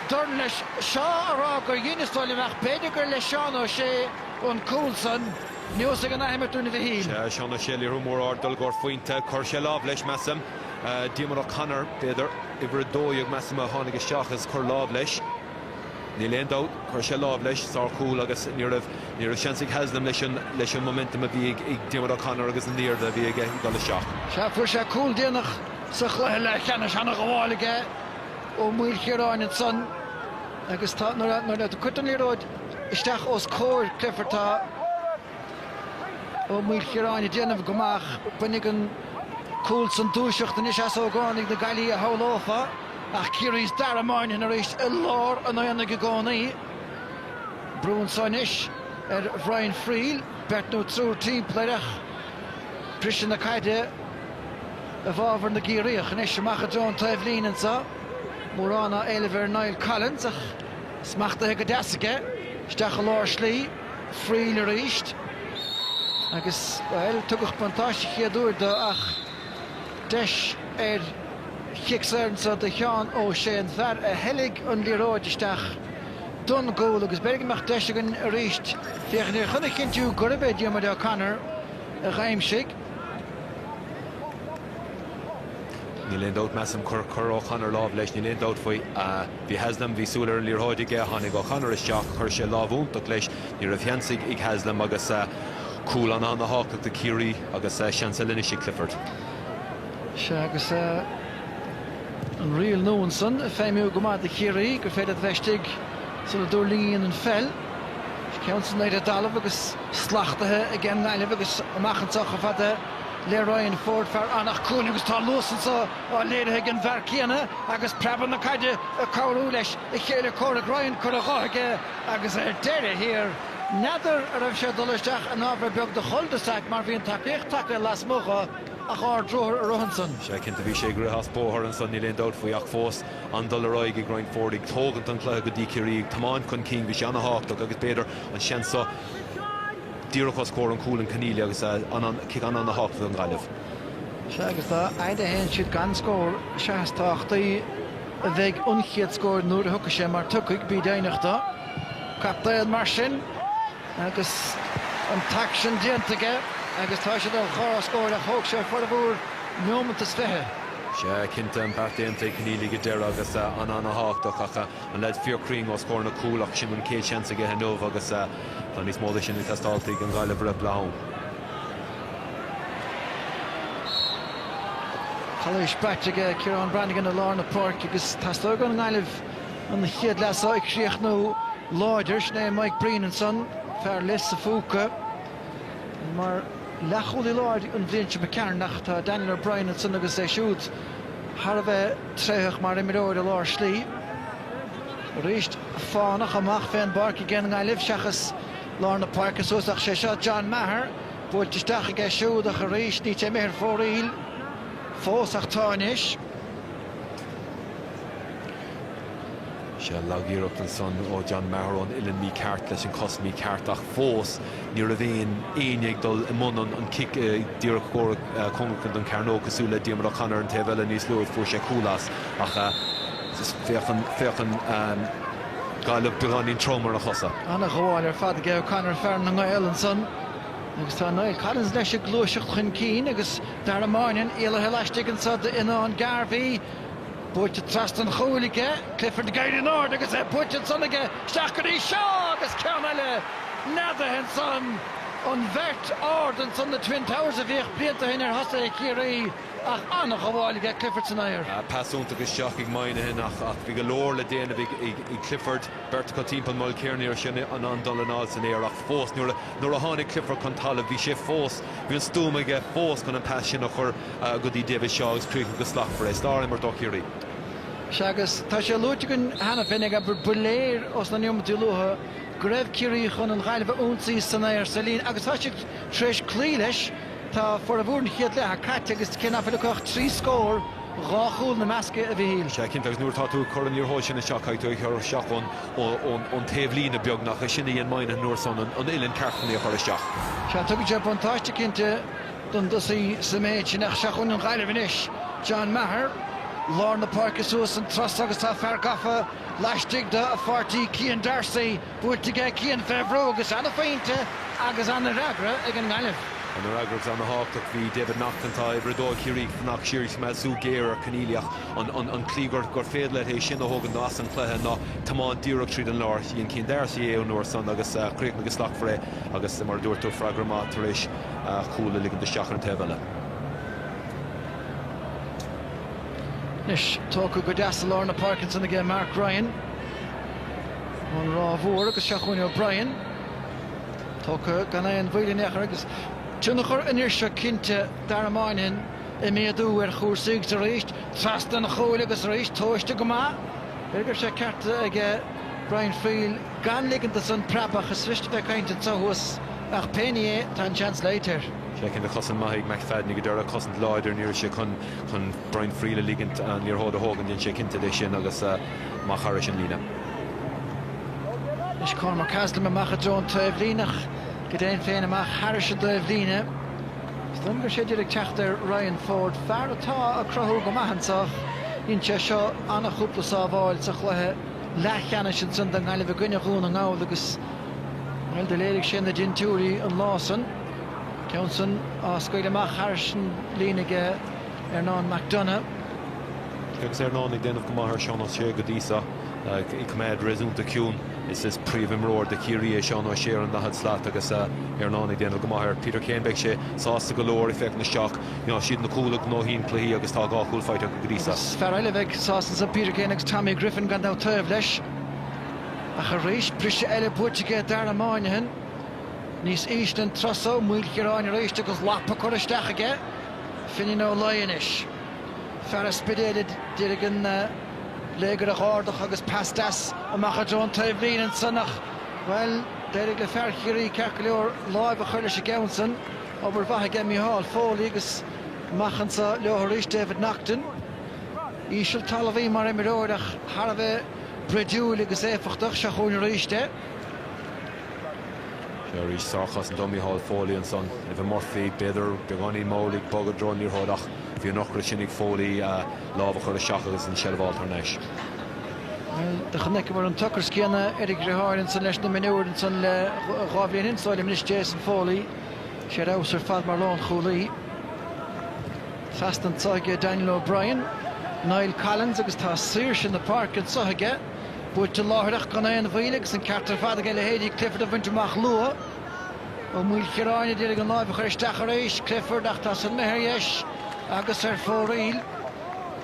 S1: dorn leis Shaw á rá gur dhein is dóigh liom ach b'fhéidir gur le Seán Ó Sé an cúl san neosfaidh an athimirt dúinn a Mhichíl. Sea, Seán Ó Sé, liathróid
S2: mór ard, dul i gcomhair phointe, chuir sé lámh leis, measaim. Diarmuid O'Connor, b'fhéidir, uimhir a dó dhéag, measaim, a tháinig isteach is chuir lámh leis. Níl aon dabht, chuir sé lámh leis, sár chúl, agus ní raibh, ní raibh seans ag Haslam leis an, leis an momentum a bhí ag, ag Diarmuid O'Connor agus an airde a bhí aige ag dul isteach. Sea, fuair sé cúl
S1: déanach sa chluiche leathcheannais ana-ghabháil aige Ó Maoilchiaráin ansan agus tá, nuair a, nuair a cuirtear an liathróid isteach os comhair Clifford, tá, Ó Maoilchiaráin ag déanamh go maith, bainfidh an cúl san dúiseacht anois as ógánaigh na Gaillimhe a shamhlófá, ach Ciarraí is Dara Moynihan arís i lár an aonaigh i gcónaí. Brú anseo anois ar Bhrian Friel, beirt nó triúr timpeall air ach briseadh na caide i bhfábhar na gCiarraíoch. Anois amach i dtreo an taobhlíne anseo, mórán á éileamh ar Niall Collins ach smachtaithe go deas aige isteach i lár slí. Friel arís agus, bhuel, tugadh buntáiste chéad uair do ach deis ar chic saor anseo do Sheán Ó Sé, an fear a theilg an liathróid isteach don gcúl agus b'fhéidir go mbeadh deis againn arís féachaint air chun a chinntiú gurb é Diarmuid O'Connor a d'aimsigh.
S2: Níl aon dabht, measaim, chuir O'Connor lámh leis, níl aon dabht faoi. Bhí Haslam, bhí súil ar an liathróid aige, tháinig O'Connor isteach, chuir sé lámh iontach leis, ní raibh seans ag Haslam agus cúl an-an-tábhachtach do Chiarraí agus seans eile anois ag Clifford.
S1: Sea, agus an riail nua ansan ag feidhmiú go maith do Chiarraí, gur féidir a bheith istigh sula dtuirlingíonn an pheil. Is ceann san aer i dtalamh agus slachtaithe aige an nGaillimh agus amach anseo chomh fada le Ryan Forde, fear Anach Cuain agus tá an luas anso. á léirithe ag an bhfear céanna agus preabadh na caide ag cabhrú leis a chéile comhraic Ryan curtha dho aige agus ar deireadh thiar, n'fheadar a raibh sé ag dul isteach in ábhar beag de chul de sac mar bhí an tacaíocht tagtha lasmuigh dho ach ardruathar a rith ansan. Sea, cinnte bhí sé ag
S2: rith as bóthar ansan, níl aon dabht faoi ach fós an-dul ar aghaidh ag Ryan Forde, ag tógaint an cluiche go dtí Ciarraí, ag tiomáint chun cinn bhí sé ana-thábhachtach agus b'fhéidir an seans so, díreach os comhair an chúil an Conneely agus cic an-ana-thábhachtach don Ghaillimh. Sea,
S1: agus dá fhaid a théann siad gan scór, sea is tábhachtaí a bheidh an chéad scór nuair a thiocfaidh sé, mar tiocfaidh, bí deimhneach de. Captaen mar sin agus an t-aicsean déanta aige agus tá siad ar chlár na scór ach thóg sé formhór neomat is fiche. Sea, cinnte,
S2: an beart déanta ag Conneely go deireadh agus an-ana-thábhachtach ach. An leaid fíorchruinn os comhair na cúil ach sin an chéad seans aige inniu agus tá níos mó de sin ag teastáilt ag an Ghaillimh roimh
S1: leath-am. Calaois braite aige Ciarán Branagan i lár na páirce agus teastóidh ón nGaillimh an chéad leath seo a chríochnú láidir. Sin é Mike Breen ansan, fear Lios a' Phúca. Mar leathchúlaí láir an bhliain seo a d'imigh tharainn ach tá Daniel O'Brien ansan agus é siúd, thar a bheith tréitheach mar imreoir i lár slí. Arís fánach amach fén bpáirc aige an nGaillimh seachas lár na páirce suas ach sé seo John Maher buailte isteach aige siúd ach arís níl sé imithe ar fóraoil fós ach tá anois.
S2: Sea, lagiarracht ansan ó John Maher ón uillinn mícheart leis an cos mícheart ach fós ní raibh aon éinne ag dul i mbun an cic díreach comhair cóngarach don chearnóg cosúil le Diarmuid O'Connor ar an taobh eile níos luaithe fuair sé cúl as ach féachann féachann Gaillimh beagáinín trom ar a chosa. Ana-ghabháil ar
S1: fad aige O'Connor fear na nGael ansan agus tá Niall Collins leis ag gluaiseacht chun cinn agus Dara Moynihan éalaithe laistigh anso d'Fhionnán Garvey. Buaite trasna an chúil aige, Clifford ag éirí in airde agus é buaite ansan aige, isteach go dtí Shaw agus ceann eile neadaithe ansan, an bheirt ard ansan, na Twin Towers a bhíodh blianta ó shin ar thosaithe Chiarraí ach an-ghabháil aige Clifford san aer. Pas iontach isteach
S2: ag Moynihan ach bhí go leor le déanamh ag Clifford, beirt acu timpeall Mulkerrin air sin, an-dul anall san aer ach fós nuair a tháinig Clifford chun talaimh bhí sé fós, bhí an stuaim aige fós chun an pas sin a chur. go dtí David Shaw agus críochnaigh go slachtmhar é, sárimirt ó Chiarraí. Sea,
S1: agus tá sé luaite againn cheana féinig, ba léir ó sna neomataí luatha go raibh Ciarraí chun an Ghaillimh a ionsaí san aer, sa líne agus tá siad tar éis cloí leis. Tá formhór an chéad leatha caite agus cé nach bhfuil acu ach trí scór, dhá chúl ina measc, a Mhichíl? Sea, cinnte, agus nuair atá tú ag
S2: cur an liathróid sin isteach, caithfidh tú é a chur isteach ón taobhlíne, beagnach. É sin a dhein Moynihan an uair san, an uillinn ceart chun í a chur isteach. Sea, tugann sé
S1: buntáiste, cinnte. don dtosaí sa méid sin ach seo chugainn an Ghaillimh anois John Maher, lár na páirce suas an turas so agus tá fear gafa laistigh de, a pháirtí Cian Darcy, buailte aige Cian fé bhrú agus an-phointe agus an-fhreagra ag an nGaillimh. An-fhreagra
S2: agus an-thábhachtach, bhí David Naughton, atá ag uimhir 2 ag Ciarraí, ag fanacht siar is coimeád súil géar ar Conneely ach an tslí gur féidir leat é sin a thógaint as an cluiche ná tiomáint díreach tríd an lár. Dhein Cian Darcy é an uair san agus chríochnaigh go slachtmhar é agus mar a dúirt tú, freagra maith tar éis. cúl a ligint isteach ar an taobh eile.
S1: Anois tógtha go deas i lár na páirce ansan aige Mark Ryan. Ón Ráth Mhór agus seo chugainn O'Brien. Tógtha gan aon mhoill in aon chor agus tionchar an fhir seo cinnte, Dara Moynihan, ag méadú ar chúrsaí agus arís trasna an chúil agus arís tomhaiste go maith. B'fhéidir go raibh sé ceart aige Brian Friel. gan ligint dó san preabadh is rist bheith cainnte annso thuas, ach pé ní é tá an seans loite air. Sea cinnte, cosaint
S2: maith ag McFadden ag an deireadh, cosaint láidir, ní raibh sé chun chun Brian Friel a ligint an liathróid a thógaint, dhein sé cinnte de sin agus amach thairis an líne.
S1: Anois Cormac Haslam amach i dtreo an taobhlíne ach, go deimhin féin amach thairis an dtaobhlíne. Is dóigh liom go raibh sé a d'iarraidh teacht ar Ryan Forde, fear atá ag cruthú go maith annso, dhein sé seo an-chúpla sábháil sa chluiche, leathcheannais ansin don nGaillimh i gcoinne Dhún na nGall agus, bhuel, do léirigh sé na dintiúirí an lá san. Ceann san á scaoileadh amach thairis an líne aige Earnán McDonagh.
S2: Agus Earnán ag déanamh go maith ar Sheán Ó Sé go dtí so, ag coimeád réasúnta ciúin. Is príomhimreoir do Chiarraí é Seán Ó Sé ar an 40 slat agus Earnán ag déanamh go maith air. Peter Keane Beidh sé sásta go leor ag féachaint isteach. Mar is iad na cúil a ghnóthaíonn cluichí agus tá dhá chúl faighte acu go dtí seo. Agus fear eile a bheidh
S1: sásta ansan, Peter Keane agus Tommy Griffin, gan dabht, taobh leis. Ach arís, briseadh eile buaite aige Dara Moynihan. Níos ísle an turas so, Maoilchiaráin arís agus lapa curtha isteach aige. Finín Ó Laoi anois. Fear an Spidéil a d'iarraidh an léigear a dh'ardach agus pas deas amach i dtreo an taobhlíne ansan ach, bhuel, d'éirigh le fear Chiarraí, ceart go leor, láimh a chuir leis an gceann san. Obair mhaith aige Micheál Foley agus amach anseo leo arís David Naughton. Íseal talmhaí mar imreoir ach thar a bheith broidiúil agus éifeachtach. Seo chugainn arís é.
S2: Seo arís sárchosaint ó Mhicheál Foley ansan. Evan Murphy b'fhéidir beagáinín mall ag bogadh i dtreo an liathróid ach bhí an t-ocras sin ag Foley a lámh a chur isteach agus an tseilbh a fháil thar
S1: n-ais. Do chonaiceamar an t-ocras céanna ar a dhriotháir ansan leis na mionúir ansan le dhá bhliain is dóigh liom anois Jason Foley. 'S é ar fheabhas ar fad mar lánchúlaí. Trasna anseo aige Daniel O'Brien, Niall Collins agus tá saoirse na páirce anseo aige. Buailte láithreach gan aon mhoill agus an ceart ar fad aige leithéidí Clifford a bhaint amach luath. Ó Maoilchiaráin a d'iarraidh an lámh a chur isteach arís. Clifford ach tá san imithe ar dheis agus ar fóraoil.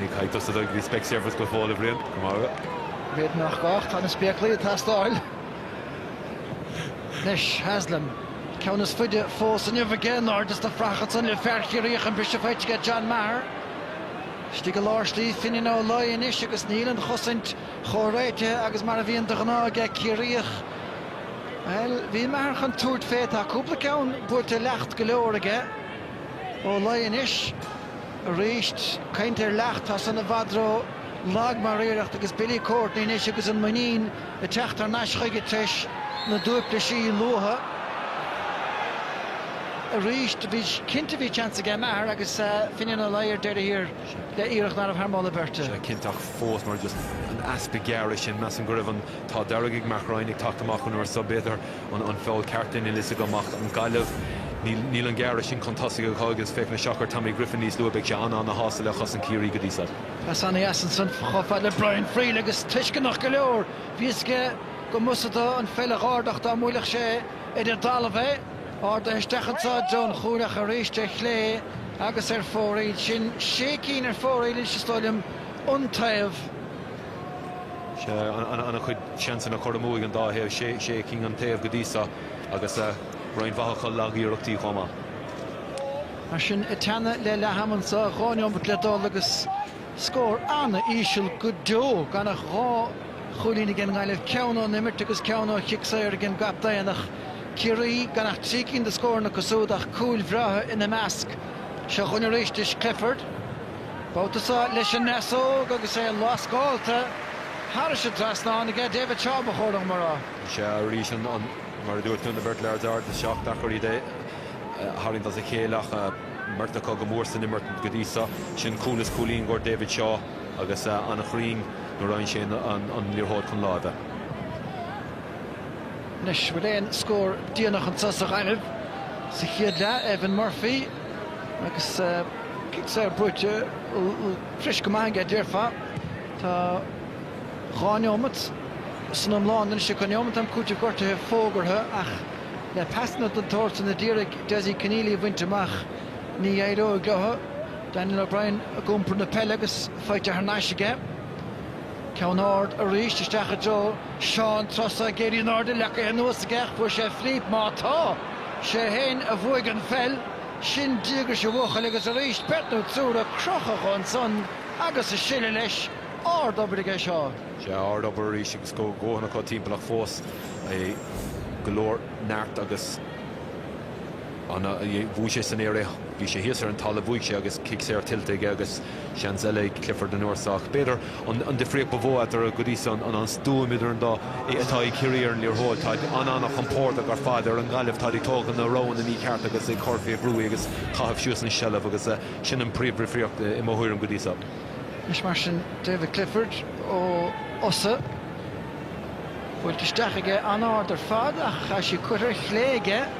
S1: Ní chaithfidh
S2: tusa dul go Specsavers go fóill, a Bhriain. Go maith agat. B'fhéidir nach
S1: gá, ach tá na spéaclaí ag teastáil. Anois, Haslam. Ceann is faide fós inniu aige in airde sna fraitheacha san le fear Chiarraí ach an briseadh faighte aige John Maher. Istigh i lár slí Finian Ó Laoi anois agus níl an chosaint chomh réitithe agus mar a bhíonn de ghnáth aige Ciarraí ach, bhuel, bhí Maher chun tabhairt fé. Tá cúpla ceann buailte leacht go leor aige. Ó Laoi anois. Arís, caint ar leacht, tá san i bhfad ró-lag mar iarracht agus Billy Courtney anois agus an muinín ag teacht thar n-ais chuige t'réis na dtuaiplisí luatha. Arís, bhí, cinnte bhí seans aige, Maher agus Finian Ó Laoi ar deireadh thiar le iarracht nárbh thar moladh beirte. Sea, cinnte, ach fós mar
S2: just an easpa gearradh sin, measaim go raibh an t-ádh dearg ag Mark Ryan ag teacht amach an uair so, b'fhéidir. an feall ceart é, níl fhios agam ach an Ghaillimh. Níl an gearradh sin chun tosaigh acu agus féach na seachar Tommy Griffin níos luaithe, beidh sé an-an-shásta le cosaint Chiarraí go dtí so. Pas ana-dheas ansan
S1: chomh fad le Brian Friel agus tuisceanach go leor, bhí fhios aige go mb'fhusa dó an pheil a dh'ardach dá mbuailfeadh sé idir dtalamh é. Ardaithe isteach anso i dtreo an chúil ach arís ar chlé agus ar fóraoil. Sin sé cinn ar fóraoil anois is dóigh liom, un taobh.
S2: Sea, an-chuid seansanna curtha amú ag an dá thaobh, sé cinn an taobh go dtí seo, agus roinnt mhaith acu lag-iarrachtaí chomh maith.
S1: Mar sin, ag teannadh le leath-am anseo, dhá neomat le dul agus scór an-íseal go deo, gan ach dhá chúilín ag an nGaillimh, ceann ón imirt agus ceann ó chic saor ag an gcaptaen ach Ciarraí gan ach trí cinn de scóranna acu siúd ach cúil bhreátha ina measc. Seo chugainn arís, Clifford. Babhta seo leis an ndeasóg agus é lascálta thairis an trasnán aige, David Shaw ba chóir dhom a rá. Sea arís, an,
S2: mar a dúirt tú, na beirt lads ard is seacht dheacair iad a tharraingt as a chéile ach an bheirt acu go mór san imirt go dtí seo. Sin cúl is cúilín go David Shaw agus an-chruinn nuair a fhaigheann sé an liathróid chun láimhe.
S1: Anois bhfuil aon scór déanach anso sa Ghaillimh sa chéad leath, Evan Murphy. Agus cic saor buaite fuirist go maith aige, déarfá. Tá dhá neomat san iomlán anois, 'sé sin neomat am cúitimh gortaithe fógartha ach le pasanna den tsórt sin a d'iarraidh Dessie Conneely a bhaint amach, ní éireoidh leo. Daniel O'Brien ag iompar na peile agus faighte thar n-ais aige. Ceann ard arís, isteach i dtreo Shaw an turas so ag éirí in airde, leagaithe anuas aige ach bhuaigh sé flip, má tá! 'Sé fhéin a bhuaigh an pheil! Sin díograis a bhuachaill agus arís beirt nó triúr a crochadh ansan agus a sileadh leis. Ard obair aige seo. 'Sea, ard
S2: obair arís agus dóthain acu timpeall ach fós, go leor neart agus. an a bhuaigh sé san aer é bhí sé thíos ar an talamh bhuaigh sé agus cic saor tuillte aige agus seans eile ag Clifford an uair seo ach b'fhéidir an an difríocht ba mhó eatarthu go dtí seo an an stuaim idir an dá é atá ag Ciarraí ar an liathróid táid an-an-chompordach ar fad ar an nGaillimh táid ag tógaint na roghanna míchearta agus ag cur fé bhrú agus caitheamh suas an tseilbh agus sin an príomhdhifríocht i mo thuairim go dtí seo. Anois mar
S1: sin David Clifford ó Fhosadh buailte isteach aige an-ard ar fad ach tá sí curtha ar chlé aige.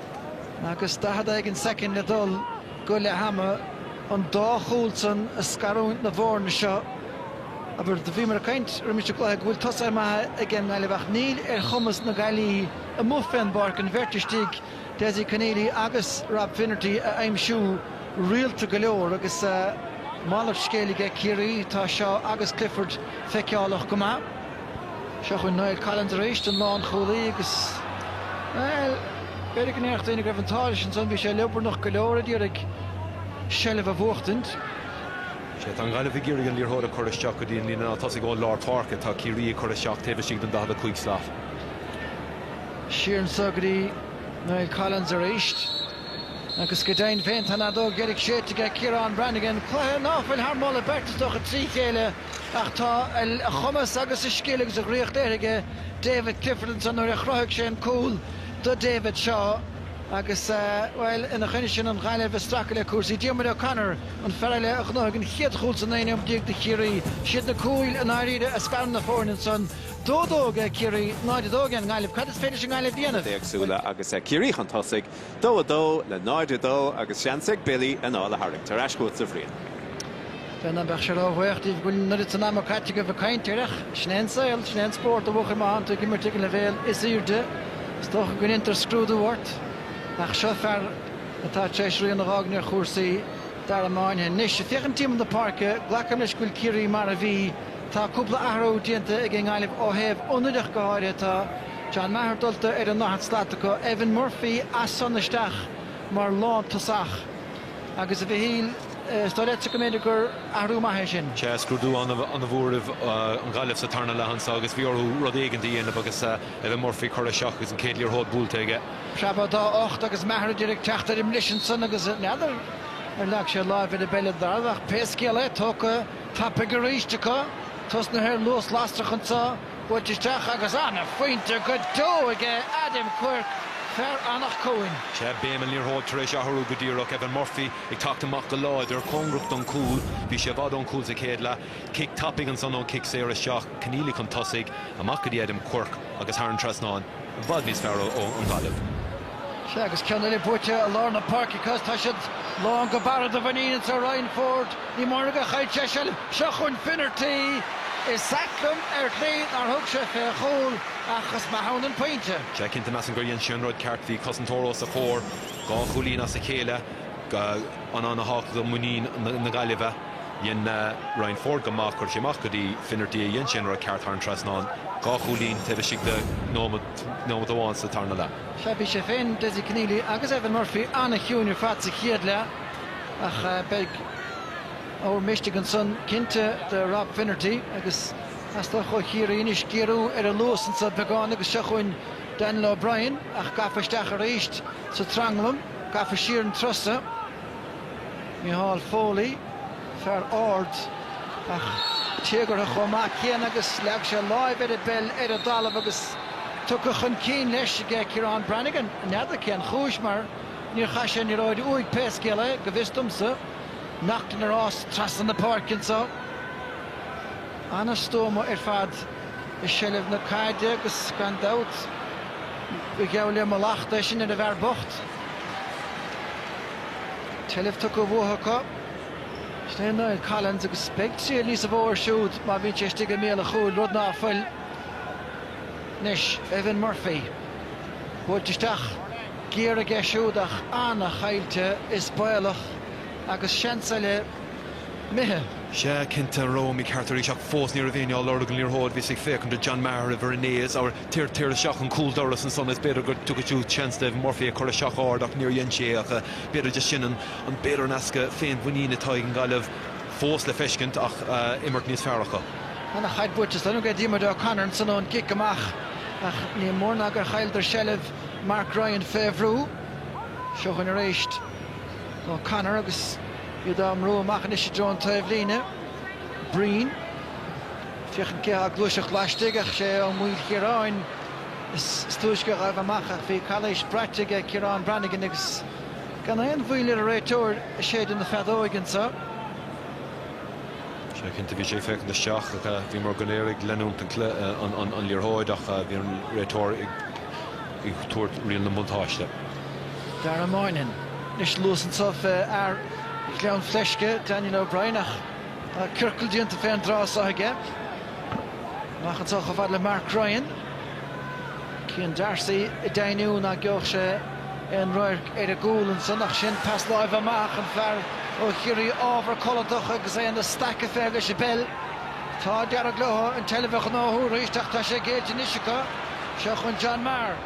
S1: Agus daichead éigin soicind le dul go leath ama, an dá chúl san a scarúint na bhfoirne seo, abair, do bhíomar ag caint roimis an gcluiche go bhfuil tosaithe maithe ag an nGaillimh ach níl ar chumas na Gaillimhe amuigh fén bpáirc an bheirt istigh, Dessie Conneely agus Rob Finnerty, a aimsiú rialta go leor agus malairt scéil aige Ciarraí, tá Shaw agus Clifford feiceálach go maith. Seo chugainn Niall Collins arís, an lánchúlaí, agus, bhuel, b'fhéidir go ndéarfadh daoine go raibh an t-ádh leis ansan, bhí sé liobarnach go leor ag iarraidh seilbh a bhuachtaint. 'Sea,
S2: tá an Ghaillimh ag iarraidh an liathróid a chur isteach go dtí an líne tosaigh ón lár páirce, tá Ciarraí ag cur isteach taobh istigh den 45
S1: slat. Siar anseo go dtí Niall Collins arís, agus go deimhin féin, tá an fheadóg dheiridh séidte aige, Ciarán Brannigan, cluiche nach bhfuil thar moladh beirte is dócha trí chéile. Ach tá a chumas agus a scil agus a dhraíocht léirithe aige David Clifford ansan nuair a chruthaigh sé an cúl do David Shaw agus, bhuel, ina choinne sin, an Ghaillimh ag stracadh le cúrsaí. Diarmuid O'Connor, an fear eile a ghnóthaigh an chéad chúl sa naoú nóiméad déag do Chiarraí. Siad na cúil i ndáiríre a scarann na foirne ansan. Dó dó aige Ciarraí, 0-2 aige an nGaillimh. Cad is féidir leis an nGaillimh a dhéanamh éagsúil agus Ciarraí
S3: chun tosaigh dó 2 le 0 2 agus seans ag Billy anáil a tharraingt ar ais chugatsa, a Bhriain. N'fheadar
S1: an mbeadh sé róbhaoch díbh go bhfuil an oiread san ama caite agaibh ag caint air ach sin é an saol, sin é an spórt a bhuachaill má tánn tú ag imirt ag an leibhéal is airde, is dócha go ndéantar scrúdú ort. Ach seo fear atá tar éis rian a dh'fhágaint ar chúrsaí Dara Moynihan. Anois, ag féachaint timpeall na páirce, glacaim leis go bhfuil Ciarraí mar a bhí. Tá cúpla athrú déanta ag an nGaillimh ó thaobh ionad ach go háirithe. Tá. John Maher dulta ar an ndaichead slat acu, Evan Murphy as san isteach mar lántosach agus, a Mhichíl, is dóigh leatsa go mb'fhéidir gur athrú maith é sin? Sea, scrúdú
S2: an-mhór roimh an Ghaillimh sa tarna leath anseo agus bhí orthu rud éigin a dhéanamh agus Evan Murphy curtha isteach agus an chéad liathróid buailte aige. Preabadh
S1: dá ucht agus Maher díreach ag teacht ar an mbris ansan agus n'fheadar ar leag sé láimh ar an bpeil ar an dtalamh ach pé scéal é, tógtha tapaidh arís acu, tosnaithe ar luas lasrach anseo. Buailte isteach agus an-phointe go deo aige Adam Quirke, fear Anach Cuain. Sea, béim an liathróid
S2: tar éis athrú go díreach, Evan Murphy ag teacht amach go láidir, cóngarach don chúl. Bhí sé i bhfad ón chúl sa chéad leath. Cic tapaidh ansan ón chic saor isteach. Conneely chun tosaigh, amach go dtí Adam Quirke agus thar an trasnán. I bhfad níos fearr ón Ghaillimh. Sea,
S1: agus ceann eile buaite i lár na páirce acu is, tá siad lán go barra de mhuinín anseo. Ryan Forde, ní mórán a chaill seisean. Seo chugainn Finnerty. Is ait liom ar shlí nár thug sé fé chúl, ach is maith ann an pointe. Sea, cinnte, measaim gur dhein
S2: sé an rud ceart. Bhí cosantóir os a chomhair, dhá chúilín as a chéile, an-tábhachtach do mhuinín na Gaillimhe. Dhein Ryan Forde go maith, chuir sé amach go dtí Finnerty, a dhein sé an rud ceart thar an trasnán. Dhá chúilín taobh istigh de nóimeat amháin sa tarna leath. Sea, bhí sé
S1: féin, Dessie Conneely agus Evan Murphy an-chiúin ar fad sa chéad leath ach beidh ábhar misnigh ansan cinnte do Rob Finnerty agus teastóidh ó Chiarraí anois géarú ar a luas anseo beagán agus seo chugainn Daniel O'Brien ach gafa isteach arís sa tranglam, gafa siar an turas so. Micheál Foley, fear ard ach téagartha chomh maith céanna agus leag sé láimh ar an bpeil ar an dtalamh agus tugtha chun cinn leis aige Ciaran Branagan. N'fheadar cén chúis mar níor chaith sé an liathróid uaidh pé scéal é, go bhfios domsa. Naughton ina rás trasna na páirce anseo. An-stuama ar fad. i seilbh na caide agus gan dabht ba gheall le mallacht é sin ar an bhfear bocht. An tseilbh tugtha uathu acu. Sin é Niall Collins agus beidh triail níosa mhó air siúd má bhíonn sé istigh i mbéal a chúil, rud ná fuil anois. Evan Murphy buailte isteach géar aige siúd ach an-chaillte is baolach agus seans eile. imithe! Sea, cinnte,
S2: an rud mícheart arís ach fós ní raibh éinne á lorg an liathróid, bhíos ag féachaint do John Maher i bhFoirnéis, abhair, téir, téir isteach an cúldoras ansan is b'fhéidir go dtiocfadh siúd seans d'Evan Murphy a chur isteach ard ach níor dhein sé é ach b'fhéidir just sin an b'fhéidir an easpa féinmhuiníne atá ag an nGaillimh fós le feiscint ach imirt níos fearr acu. Ana chaid
S1: buaite san ag Diarmuid O'Connor ansan ón gcic amach ach ní mór ná gur chailleadar seilbh Mark Ryan fé bhrú. Seo chugainn aréist. O'Connor agus iad á mbrú amach anois i dtreo an taobhlíne. Breen, ag féachaint cé atá ag gluaiseacht laistigh ach is é Ó Maoilchiaráin is túisce a ghaibh amach ach bhí calaois braite aige Ciarán Brannigan agus gan aon mhoill ar an réiteoir ag séideadh na feadóige
S2: anseo. Sea, cinnte bhí sé ag féachaint isteach ach bhíomar go léir ag leanúint an liathróid ach bhí an réiteoir ag ag tabhairt riail na mbuntáiste.
S1: Dara Moynihan. Anois luas anseo fé fhear Ghleann Fleisce, Daniel O'Brien, ach tá ciorcal déanta fé an dtrá so aige. Amach anseo chomh fada le Mark Ryan. Cian Darcy ag deimhniú ná geobhadh sé aon radharc ar an gcúl ansan ach sin pas láimhe amach, an fear ó Chiarraí ábhar codlatach agus é ina staic ag feitheamh leis an bpeil. Tá d'éirigh leo an tseilbh a ghnóthú arís ach tá sé géillte anois acu. Seo chun John Maher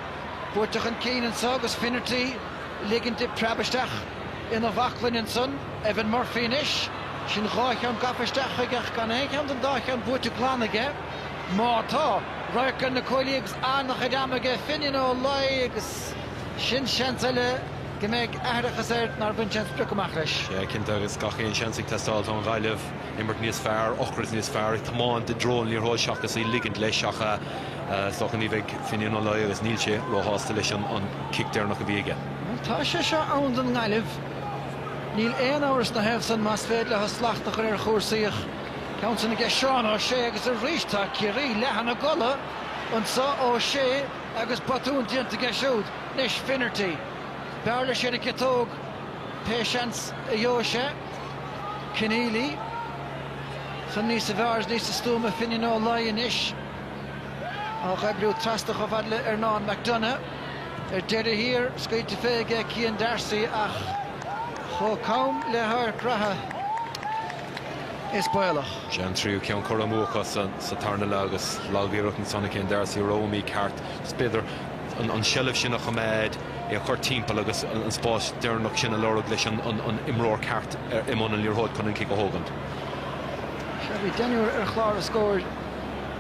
S1: buailte chun cinn anso agus Finnerty ag ligint di preabadh isteach ina bhaclainn ansan. Evan Murphy anois. Sin dhá cheann gafa isteach chuige ach gan aon cheann den dá cheann buaite glan aige. Má tá, radharc ar na cuaillí agus an-chuid ama aige Finnian Ó Laoi agus sin seans eile go mbeidh aithreachas air nár bhain sé an sprioc amach leis. Sea, cinnte agus gach
S2: aon seans ag teastáil. Tá an Ghaillimh. imirt níos fearr, ocras níos fearr, ag tiomáint i dtreo an liathróid seachas í ligint leis ach is dócha ní bheidh Finian Ó Laoi agus níl sé róshásta leis an cic deireanach a bhí aige. Bhuel tá sé seo
S1: ann don nGaillimh. Níl aon amhras ina thaobh san más féidir leo slacht a chur ar chúrsaí ach ceann san aige Seán Ó Sé agus arís tá Ciarraí leath ina gcodladh anseo, Ó Sé agus botún déanta aige siúd. Anois Finnerty, b'fhearr leis fhéin an ciotóg pé seans a gheobhadh sé. Conneely, san níos fearr is níos stuama Finian Ó Laoi anois á dh'oibriú trasna chomh fad le Ernán McDonagh. Ar deireadh thiar, scaoilte fé aige Cian Darcy ach chomh cam le hadharc reatha, is baolach. Sé an tríú
S2: ceann curtha amú acu sa tarna leath agus lagiarracht ansan ó Cian Darcy rogha mícheart. Is b'fhéidir an seilbh sin a choimeád. é a chur timpeall agus an spás deireanach sin a lorg leis an imreoir ceart i mbun an liathróid chun an cic a thógaint. Sea,
S1: bhí deichniúr ar chlár a scóir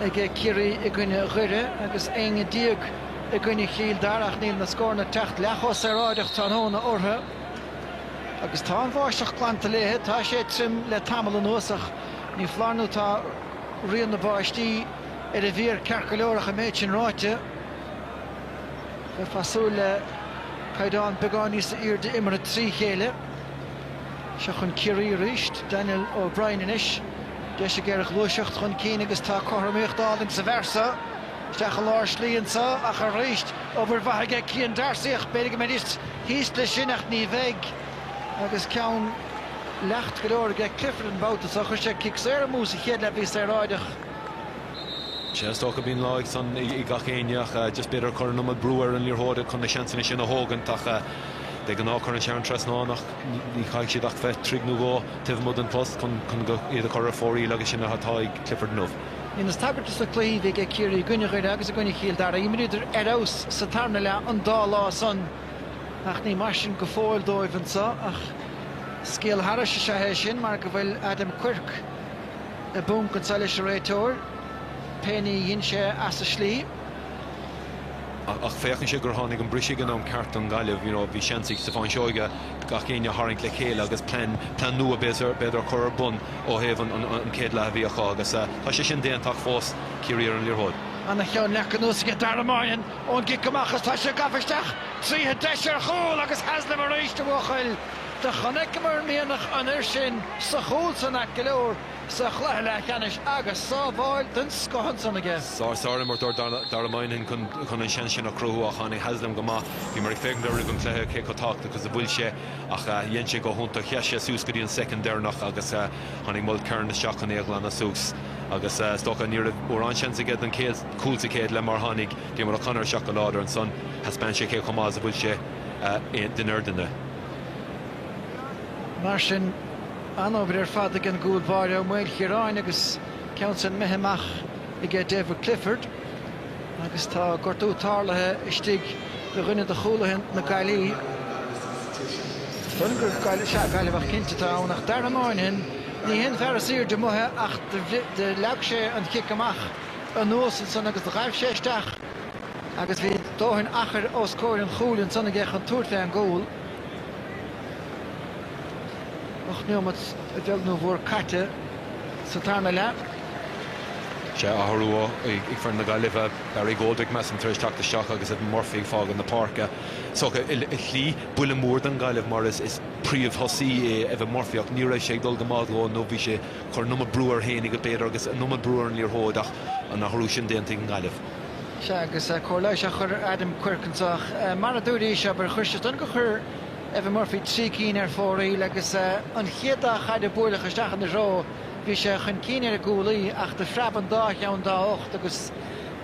S1: ag Ciarraí i gcoinne Dhoire agus éinne déag i gcoinne Chill Dara ach níl na scóranna ag teacht leath chomh saoráideach tráthnóna orthu agus tá an bháisteach glanta léi. Tá sé tirim le tamall anuas ach ní foláir nó tá rian na báistí ar an bhféar ceart go leor ach an méid sin ráite, Bheifeá ag súil le caighdeán beagán níos airde imeartha trí chéile. Seo chun Ciarraí arís Daniel O'Brien anois. Deis aige ar ghluaiseacht chun cinn agus tá cothromaíocht álainn sa bhfear so. Isteach i lár slí anseo ach arís obair mhaith aige Cian Darcy ach b'fhéidir go mbeidís thíos leis sin ach ní bheidh agus ceann leacht go leor aige Clifford an babhta seo. Chuir sé cic saor amú sa chéad leath, bhí saoráideach.
S2: Sea, is dócha go mbíonn lá acu san ag gach éinne ach just b'fhéidir ag cur an iomad brú ar an liathróid chun na seansanna sin a thógaint ach de ghnáth cuireann sé thar an trasnán ach ní chaithfidh siad ach bheith troigh nó dhó taobh amuigh den phost chun iad a chur ar fóraoil agus sin atá ag Clifford inniu. Dheineas tagairt dos
S1: na cluichí a bhí ag Ciarraí i gcoinne Dhoire agus i gcoinne Chill Dara, imríodar ar fheabhas sa tarna leath an dá lá san ach ní mar sin go fóill dóibh anseo ach scéal thairis is ea é sin mar go bhfuil Adam Quirke, i bpúnc anseo leis an réiteoir, pé ní a dhein sé as an
S2: slí. Ach féachann sé gur tháinig an briseadh ag an am ceart don Gaillimh. You know bhí seans ag Stiofán Seoighe gach éinne a tharraingt le chéile agus plean, plean nua b'fhéidir, a chur ar bun ó thaobh an chéad leath a bhí acu agus tá sé sin déanta ach fós Ciarraí ar an liathróid. Ana-cheann
S1: leagtha anuas aige Dara Moynihan ón gcic amach agus tá sé gafa isteach tríothu. Deis ar chúl agus Haslam arís a bhuachaill. Do chonaiceamar mianach an fhir sin sa chúl san ait go leor sa chluiche leathcheannais agus sábháil den scoth ansan aige. Sea,
S2: sárimirt ó Dara Moynihan chun an seans sin a chruthú ach tháinig Haslam go maith. Bhíomar ag féachaint air roimh an chluiche cé chomh tábhachtach is a bhfuil sé ach dhein sé go hiontach. Sheas sé suas go dtí an soicind deireanach agus tháinig Mulkerrin isteach chun é a ghlanadh suas agus is dócha ní raibh mórán seans aige don chéad chúl sa chéad leath mar tháinig Diarmuid O'Connor isteach go láidir ansan. Thaispeáin sé cé chomh maith is a bhfuil sé i ndoirne.
S1: Mar sin, an-obair ar fad ag an gcúl báire Ó Maoilchiaráin agus ceann san imithe amach aige David Clifford agus tá gortú tarlaithe istigh do dhuine do chúlaithe na Gaillimhe. Déarfainn gur Gaillimh, sea Gaillimheach cinnte atá ann ach Dara Moynihan, ní hé an fear is aoirde amuigh ach do leag sé an chic amach anuas ansan agus do ghaibh sé isteach. Agus bhí dóthain achair os comhair an chúil ansan aige chun tabhairt fé an gcúl. Ocht neomat a bheag nó a mhór caite sa tarna leath.
S2: Sea athrú ag foireann na Gaillimhe, Barry Goldrick measaim tar éis teacht isteach agus Evan Murphy ag fágaint na páirce. So i slí buille mór don Gaillimh mar is príomhthosaí é Evan Murphy ach ní raibh sé ag dul go maith dhó nó bhí sé ag cur an iomad brú air féinig, b'fhéidir, agus an iomad brú ar an liathróid ach an t-athrú sin déanta ag an nGaillimh. Sea,
S1: agus cóir leighis á chur ar Adam Quirke anseo ach, mar a dúradh, is é ab fhearr a chuir sé as don gur chuir Evan Murphy trí cinn ar fóraoil agus an chéad dá chaid a buaileadh isteach ina threo, bhí sé chun cinn ar an gcúlaí ach de phreab an dá cheann dá ucht agus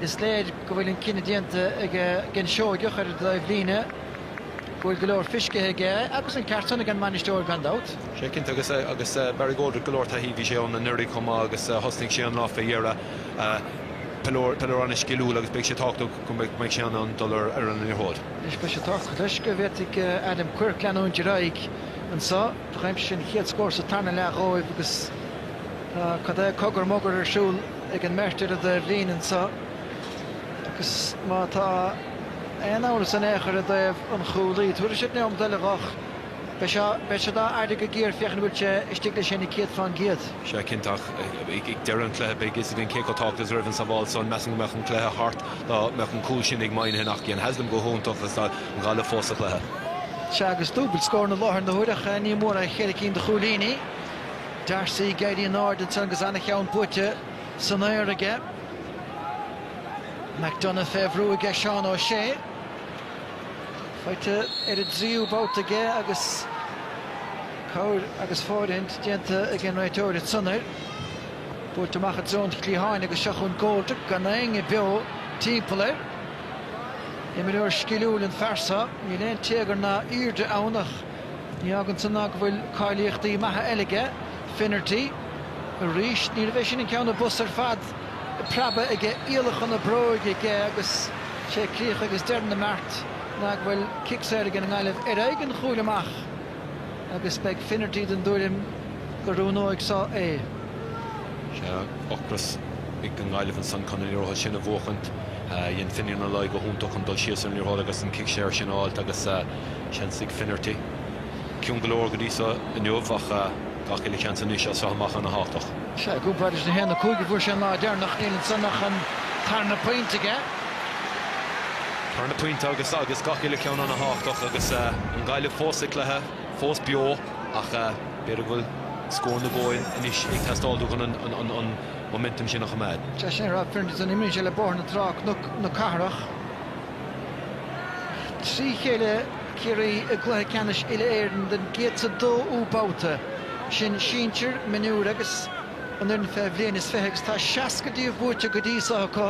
S1: is léir go bhfuil an cinneadh déanta aige an Seoigheach ar an dtaobhlíne. go bhfuil go leor fiscithe aige agus an ceart san ag an mbainisteoir gan dabht. Sea cinnte
S2: agus agus Barry Goldrick go leor taithí bhí sé ann anuraidh chomh maith agus thosnaigh sé an lá fé dheireadh. Peileoir peileoir ana sciliúil agus beidh sé tábhachtach go mbeidh mbeidh sé in ann dul ar ar an liathróid. Anois beidh sé
S1: tábhachtach leis go bhféadfaidh Adam Quirke leanúint ar aghaidh anseo. D'aimsigh an chéad scór sa tarna leath dhóibh agus tá cad é cogar mogar ar siúl ag an mbeirt ar an dtaobhlíne anseo agus má tá aon amhras in aon chor i dtaobh an chúlaí. Tabharfaidh siad neomat eile dho. Beidh sé, beidh siad á fhaire go géar féachaint an bhfuil sé istigh leis féin i gcéad fán gcéad. Sea, cinnte, ach
S2: ag deireadh an chluiche beidh a fhios againn cé chomh tábhachtach is a raibh an sabháil san. Measaim go mbeadh an cluiche thart dá mbeadh an cúl sin ag Moynihan ach dhein Haslam go hiontach agus tá an Ghaillimh fós sa chluiche. Sea,
S1: agus dúbailt scóranna i láthair na huaire ach ní mór é cheithre cinn de chúilíní. D'Arcy ag éirí in airde ansan agus an-cheann buaite san aer aige. McDonagh fé bhrú aige Seán O'Shea. Faighte ar an dtríú babhta aige agus cabhair agus fóirithint déanta ag an réiteoir ansan air. Buailte amach i dtreo an chliatháin agus seo chugainn Goldrick gan éinne beo timpeall air. Imreoir sciliúil an fear so, níl aon téagar ná aoirde ann ach Ní fhágann san ná go bhfuil cáilíochtaí maithe eile aige, Finnerty. Arís, níorbh é sin an ceann a b'fhusa ar fad preabadh aige, iallacha na bróige aige agus sé críoch agus deireadh na mbeart ná go bhfuil cic saor aige an nGaillimh ar aghaidh an chúil amach agus beidh Finnerty den dtuairim go n-oiriúnóidh so é. Sea
S2: ocras ag an nGaillimh ansan chun an liathróid sin a bhuachaint. Dhein Finian Ó Laoi go hiontach chun dul síos ar an liathróid agus an cic saor sin a fháilt agus. Seans ag Finnerty. Ciúin go leor go dtí seo inniu ach gach uile sheans anois as seo amach ana thábhachtach. Sea, cúig phointe is
S1: daichead, cúig a fuair sé an lá deireanach, níl ansan ach an tarna pointe aige.
S2: Tarna pointe agus agus gach uile cheann ana thábhachtach agus an Ghaillimh fós sa chluiche, fós beo ach b'fhéidir go bhfuil scór nó dhó anois ag teastáil uathu chun an momentum sin a choimeád. Sea, sin é, Finnerty a
S1: imríonn le Bóthar na Trá, Cnoc na Cathrach. trí chéile Ciarraí i gcluiche ceannais uile-Éireann den gcéad is dóú babhta, sin sinsir, mionúir agus an fhoireann fé bhliain is fiche, agus tá seasca dó díobh buaite go dtí seo acu.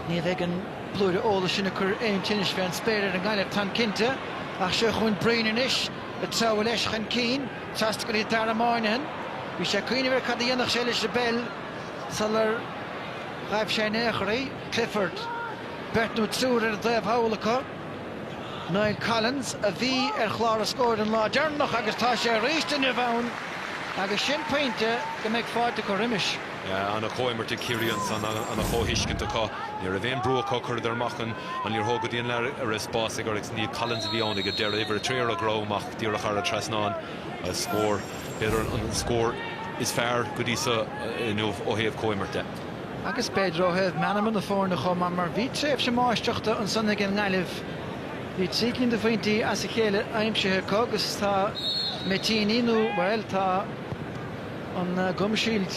S1: Ní bheidh an blúire eolais sin ag cur aon tinnis fé an spéir ar an nGaillimh, táim cinnte, ach seo chugainn Brian anois ag treabhadh leis chun cinn trasna go dtí Darragh Moynihan. Bhí sé ag cuimhneamh ar cad a dhéanfadh sé leis an bpeil sular ghaibh sé in aon chor í. Clifford, beirt nó triúr ar an taobh thall acu. Conal Ó Cuinn a bhí ar chlár na scór an lá deireanach agus tá sé arís inniu ann agus sin pointe go mbeidh fáilte acu roimis. Ana chomhimirt
S2: ag Ciarraí ansan, ana chomhthuiscint acu. Ní raibh aon brú acu, cuireadar amach an liathróid go dtí an leath go raibh spás aige agus. Niall Collins a bhí ann ag an deireadh, uimhir a trí ar a dhroim amach, díreach thar an trasnán agus scór. B'fhéidir an scór is fearr go dtí so inniu ó thaobh comhimeartha de. Agus
S1: b'fhéidir ó thaobh meanma na foirne chomh maith mar bhí tréimhse máistreachta ansan ag an nGaillimh. Bhí trí cinn de phointí as a chéile aimsithe acu agus tá mé déarfainn nó, bhuel, tá an Gum Shield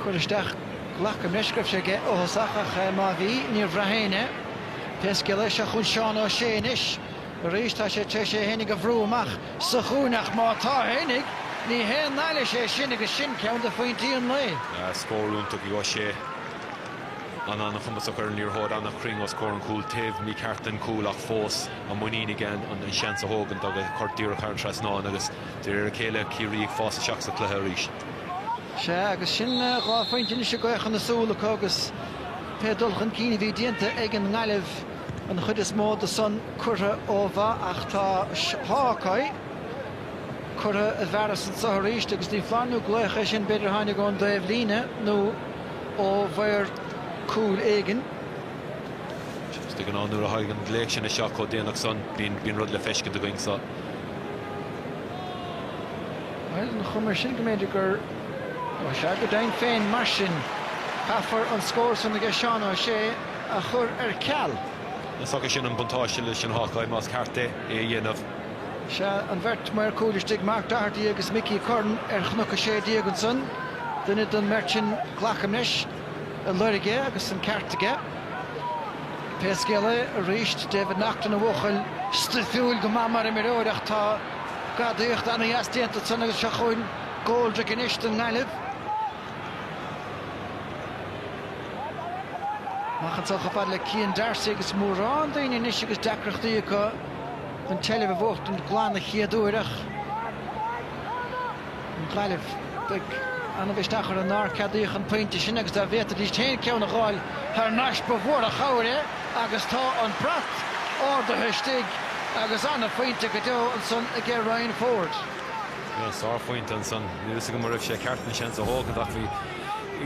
S1: curtha isteach, glacaim leis go raibh sé aige ó thosach ach má bhí, níor bhraith éinne, pé scéal é. Seo chughainn Seán O'Shea anois. Arís tá sé tar éis é fhéinig a bhrú amach sa chúinne ach má tá féinig, ní haon mhailís é sin agus sin ceann de phointí an lae. Scór iontach ag Ó
S2: Sé. An-chumasach ar an liathróid, an-chruinn os comhair an chúil, taobh mícheart den chúl ach fós an muinín aige an seans a thógaint agus a chur díreach thar an trasnán agus de réir a chéile Ciarraí ag fás isteach sa chluiche arís. Sea,
S1: agus sin dhá phointe anois i gcaochadh na súl acu agus pé dul chun cinn a bhí déanta ag an nGaillimh, an chuid is mó de san curtha ó mhaith ach tá Hawk-Eye curtha i bhfearas anso arís agus ní foláir nó glaoch é sin, b'fhéidir a tháinig ón dtaobh líne nó ó mhaor cúil éigin.
S2: Agus de ghnáth nuair a thagann an glaoch sin isteach chomh déanach san, bíonn rud le feiscint againn
S1: sa. Bhuel, ar an chuma sin go mb'fhéidir gur Ó sea, go deimhin féin mar sin, caithfear an scór san aige Seán Ó Sé, a chur ar ceal. Is dócha sin
S2: an buntáiste leis an Hawkeye más ceart é é a dhéanamh.
S1: Sea, an bheirt maor cúil istigh, Mark Doherty agus Mickey Curran ar Chnoc 16 ansan. Duine den mbeirt sin, glacaim leis, a loirg é agus an ceart aige. Pé scéal é, arís, David Naughton, ina bhuachaill stuifiúil go maith mar imreoir ach tá gadaíocht ana-dheas déanta ansan agus seo chugainn Goldrick anois don nGaillimh. Amach chun tosaigh chomh fada le Cian D'Arcy agus mórán daoine anois agus deacrachtaí acu an tseilbh a bhuachtaint glan an chéad uair ach an Ghaillimh, beidh ana-mhisneach orthu nár ceadaíodh an pointe sin agus dá bhféadfaidís féin ceann a dh'fháil thar nais ba mhór an chabhair é agus tá an brat ardaithe istigh agus an-phointe go deo ansan aige Ryan Forde.
S2: Sárphointe ansan. Níl fhios agam an raibh sé ceart an seans a thógaint ach bhí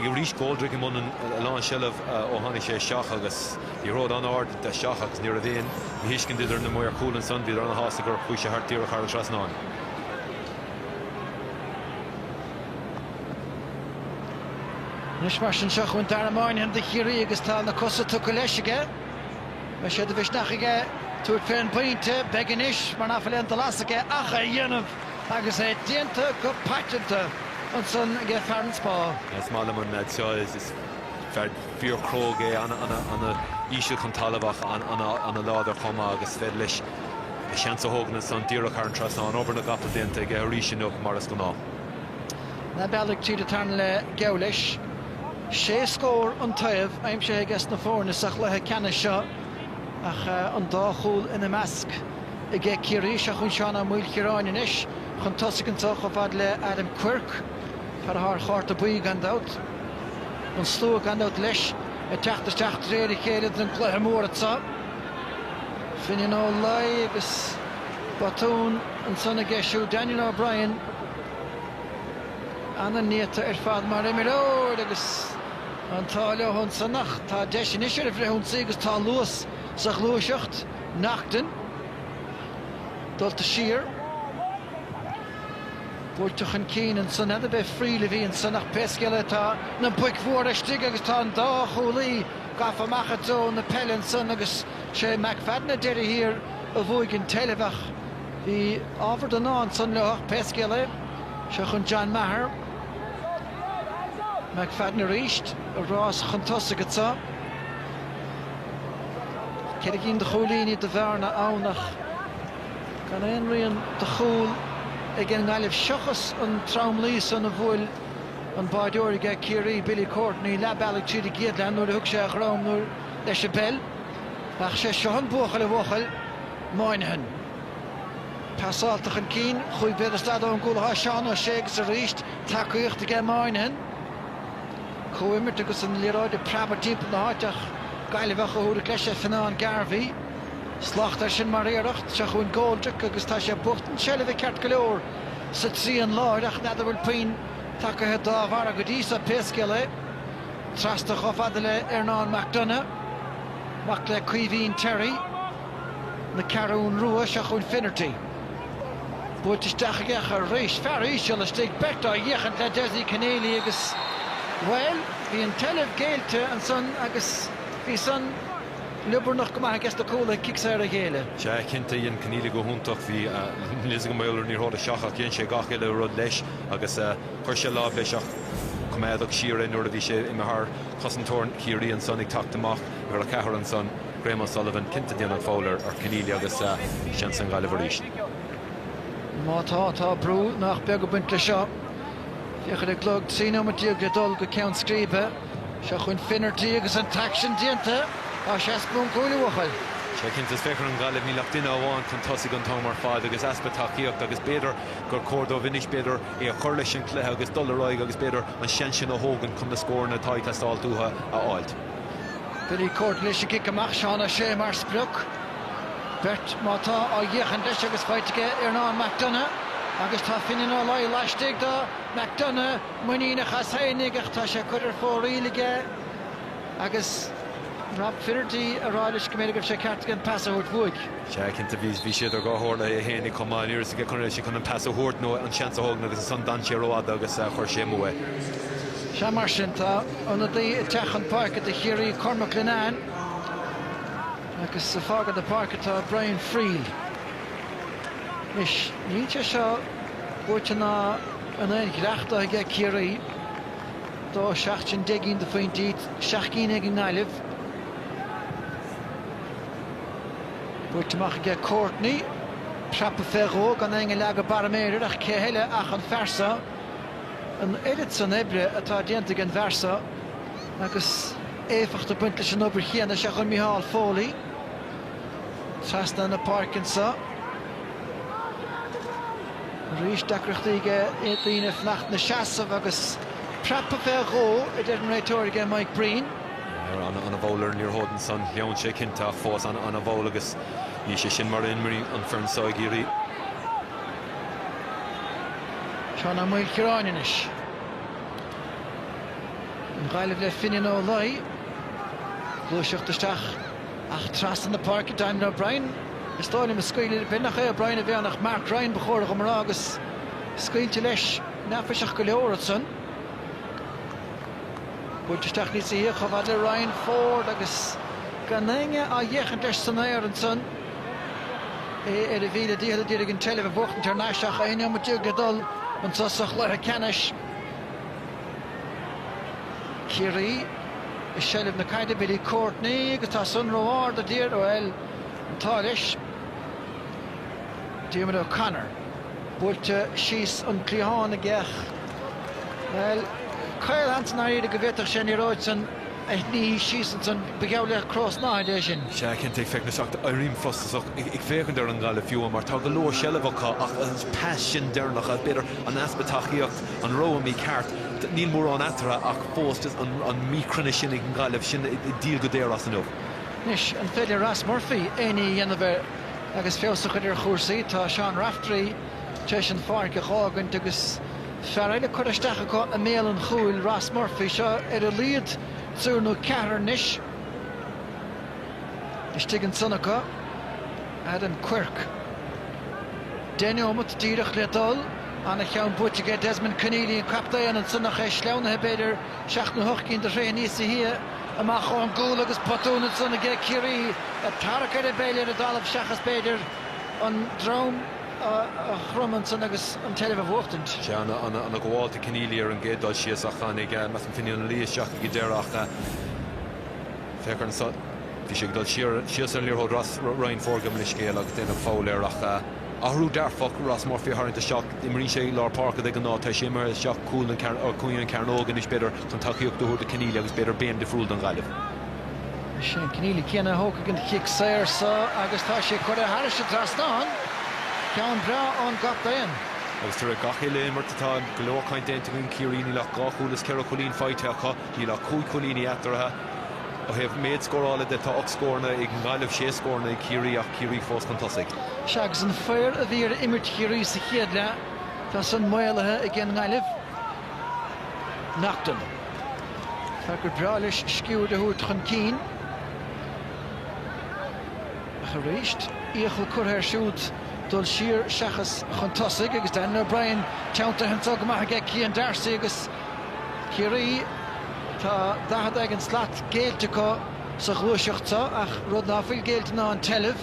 S2: arís Goldrick i mbun a lán seilbh ó tháinig sé isteach agus liathróid an-ard isteach agus ní raibh aon mhíthuiscint idir na maoir cúil ansan, bhíodar ana shásta gur chuaigh sé thart díreach thar an trasnán. Anois
S1: mar sin seo chugainn Dara Moynihan do Chiarraí agus tá na cosa tugtha leis aige. Beidh sé de mhisneach aige tabhairt fén bpointe, beidh anois, mar nach bhfuil aon dul as aige ach é a dhéanamh agus é déanta go paiteanta ansan aige fear an Spá. Is maith liom an
S2: leaid seo, is fear fíor cróga é, ana íseal chun talamh ach ana láidir chomh maith agus is féidir leis a sheans a thógaint ansan díreach thar an trasnán. Obair na gcapall déanta aige arís inniu mar is gnáth.
S1: Leath bealaigh tríd an tarna leath geall leis. Sé scór an taobh aimsithe aiges na foirne sa chluiche ceannais seo ach an dá chúl ina measc aige Ciarraí. Seo chugainn Seán Ó Maoilchiaráin anois chun tosaigh anseo chomh fad le Adam Quirke, fear atá ar chárta buí gan dabht. An slua gan dabht leis ag teacht isteach de réir a chéile don gcluiche mór anseo. Finian Ó Laoi agus botún ansan aige siúd Daniel O'Brien. Ana-néata ar fad mar imreoir agus an t-ádh leo ansan ach tá deis anois ar an bhfrithionsaí agus tá luas sa ghluaiseacht, Naughton, dulta siar. Buailte chun cinn ansan, n'fheadar ab é Friel a bhí ansan ach pé scéal é tá na boic mhóra istigh agus tá an dá chúlaí gafa amach i dtreo na peile ansan agus sé McFadden ar deireadh thiar a bhuaigh an tseilbh ach. Bhí ábhar den ádh ansan leo ach pé scéal é, seo chugainn John Maher, McFadden arís, ag rás chun tosaigh atá. Ceithre cinn de chúilíní de bhearna ann ach gan aon rian de chúl ag an nGaillimh seachas an tromluí san a bhuail an báireoir aige Ciarraí, Billy Courtney, leath bealaigh tríd an gcéad leath nuair a thug sé a dhroim leis an bpeil. Ach sé seo an buachaill a bhuachaill. Moynihan. Pasálta chun cinn, chúig mhéadar is daichead ón gcúl atá Seán Ó Sé agus arís tacaíocht aige Moynihan. Comhimirt agus an liathróid ag preabadh timpeall na háite ach Gaillimheach a thabharfadh leis é Fionnán Garvey. Slacht ar sin mar iarracht. Seo chugainn Goldrick agus tá sé ag buachtaint seilbhe ceart go leor sa trian láir ach n'fheadar bhfuil puinn tacaithe dá bharra go dtí seo pé scéal é. Trasna chomh fada le Ernán McDonagh. Mac le Caoimhín Terry. na Ceathrún Rua, seo chugainn Finnerty. Buailte isteach aige ach arís, fear íseal istigh, beirt á fhéachaint le Dessie Conneely agus, bhuel, bhí an tseilbh géillte ansan agus bhí san liobarnach go maith i gceist na cúl ag cic saor a ghéilleadh. Sea, cinnte,
S2: dhein Conneely go hiontach, bhí níl 's agam b'fhéidir liathróid isteach ach dhein sé gach uile rud leis agus chuir sé lámh leis ach coimeádadh siar é nuair a bhí sé imithe thar chosantóir Chiarraí ansan ag teacht amach uimhir a ceathair ansan. Graham O'Sullivan, cinnte déanann foul ar Conneely agus seans don Ghaillimh
S1: arís. Má tá, tá brú nach beag ag baint leis seo. Féach ar an gclog, 13 nóiméad le dul go ceann scríbe. Seo chugainn Finnerty agus an t-aicsean déanta. Tá sé as bun cúil a bhuachaill. Sea, cinnte,
S2: is féach ar an nGaillimh, níl ach duine amháin chun tosaigh an t-am ar fad agus easpa tacaíochta agus b'fhéidir gur chóir dóibh anois, b'fhéidir, é a chur leis an cluiche agus dul ar aghaidh agus b'fhéidir an seans sin a thógaint chun na scóranna atá ag teastáilt uathu a fháilt.
S1: Billy Courtney leis an gcic amach, Seán Ó Sé mar sprioc. Beirt má tá á fhéachaint leis agus faighte aige Earnán McDonagh agus tá Finian Ó Laoi laistigh do McDonagh, muiníneach as fhéinig ach tá sé curtha ar fóraoil aige agus Rob Finnerty á rá leis go mb'fhéidir go raibh sé ceart aige an pas a thabhairt uaidh. Sea, cinnte,
S2: bhí sé idir dhá chomhairle é fhéinig chomh maith. Ní raibh a fhios aige an raibh sé chun an pas a thabhairt nó an seans a thógaint agus ansan d'fhan sé rófhada agus chuir sé amú é. Sea, mar
S1: sin, tá ionadaí ag teacht chun páirce do Chiarraí, Cormac Linnane, agus ag fágaint na páirce tá Brian Friel. Anois, níl sé seo buaite ná in aon ghiorracht dó aige Ciarraí. Dó seacht sin deich gcinn de phointí, seacht gcinn ag an nGaillimh. Buailte amach aige Courtney. Preabtha fé dhó gan éinne ag leagadh barra méire air ach cé eile ach an fear seo. An oiread san oibre atá déanta ag an bhfear seo agus éifeacht ag baint leis an obair chéanna is ea chuir Micheál Foley trasna na páirce anseo. Arís deacrachtaí aige daoine fanacht ina seasamh agus preabtha fé dhó a deir an réiteoir aige Mike Breen.
S2: An-mhall ar an liathróid ansan, shleamhnaigh sé cinnte, ach fós an-mhall agus níl sé sin mar a imríonn an foireann so ag Ciarraí.
S1: Seán Ó Maoilchiaráin anois. An Ghaillimh le Finian Ó Laoi. Gluaiseacht isteach ach trasna na páirce, Daniel O'Brien. Is dóigh liom á scaoileadh, bíodh nach é O'Brien a bhí ann ach Mark Ryan ba chóir dhom a rá agus scaoilte leis, neafaiseach go leor ansan. Buailte isteach níosa shia chomh fada le Ryan Forde agus gan éinne á fhéachaint leis san aer ansan. É ar a mhíle dícheall a d'iarraidh an tseilbh a bhuachtaint thar n-ais ach aon neomat déag ag dul anso sa chluiche ceannais. Ciarraí i seilbh na caide, Billy Courtney agus tá san ró-ard i dtír, bhuel, an t-ádh leis. Diarmuid O'Connor. Buailte síos an cliathán aige ach. Bhuel, caolseans dáiríre go bhféadfadh sé an liathróid san a shní síos ansan, ba gheall le cró snáthaide é sin. Sea, cinnte, ag féachaint, ach
S2: éirím frustrach ag féachaint ar an nGaillimh fiú, mar tá go leor seilbh acu ach an pas sin deireanach, b'fhéidir an easpa tacaíocht, an rogha mícheart, níl mórán eatarthu ach fós an míchruinneas sin ag an Gaillimh, sin ag díol go daor as inniu. Anois,
S1: an féidir Ross Murphy éinní a dhéanamh ar Agus feabhas a chur ar chúrsaí, tá Seán Raftery tar éis an pháirc a dh'fhágaint agus fear eile curtha isteach acu i mbéal an chúil, Ross Murphy. Seo ar a laghad triúr nó ceathrar anois istigh ansan acu, Adam Quirke, deich neomat díreach le dul, an-cheann buaite aige, Desmond Conneely, an captaen, ansan ach é sleamhnaithe, b'fhéidir, Seacht nó hocht gcinn de throithe níosa shia amach ón gcúl agus botún ansan aige Ciarraí ag tarrac ar an bpeil ar an dtalamh seachas, b'fhéidir, an droim a chromadh ansan agus an tseilbh a bhuachtaint. Sé
S2: an-ghabháil do Conneely ar an gcéad dul síos ach tháinig measaim Finian Ó Laoi isteach ag an deireadh ach féach air an bhí sé ag dul síos ar an liathróid Ryan Forde, gabh mo leithscéal, agus déanadh foul air ach, Athrú dearfach, Ross Murphy a tharraingt isteach. Imríonn sé i lár páirce de ghnáth, tá sé imithe isteach cúl an or cúinne an chearnóg anois b'fhéidir chun tacaíocht a thabhairt do Conneely agus b'fhéidir béim difriúil don Ghaillimh. Is é
S1: an Conneely céanna a thógfaidh an chic saor seo agus tá sé curtha thairis an trasnán. Ceann breá ón gcaptaen. Agus tar eis
S2: gach uile imirt atá go leor caint déanta againn Ciarraí níl ach dhá chúl is ceithre chúilín faighte acu, níl ach cúig chúilíní eatarthu. Ó thaobh méid scórála de, tá ocht scóranna ag an nGaillimh, sé scóranna ag Ciarraí ach Ciarraí fós chun tosaigh. Sea, agus an
S1: faobhar a bhí ar imirt Chiarraí sa chéad leath, tá san maolaithe ag an nGaillimh. Naughton. Fear gur breá leis sciúird a thabhairt chun cinn. Ach arís, iachall curtha air siúd dul siar seachas chun tosaigh agus Dan O'Brien teanntaithe anseo go maith aige ag Cian Darcy agus, Ciarraí. Tá 40 éigin slat géillte acu sa ghluaiseacht so ach rud ná fuil géillte ná an tseilbh.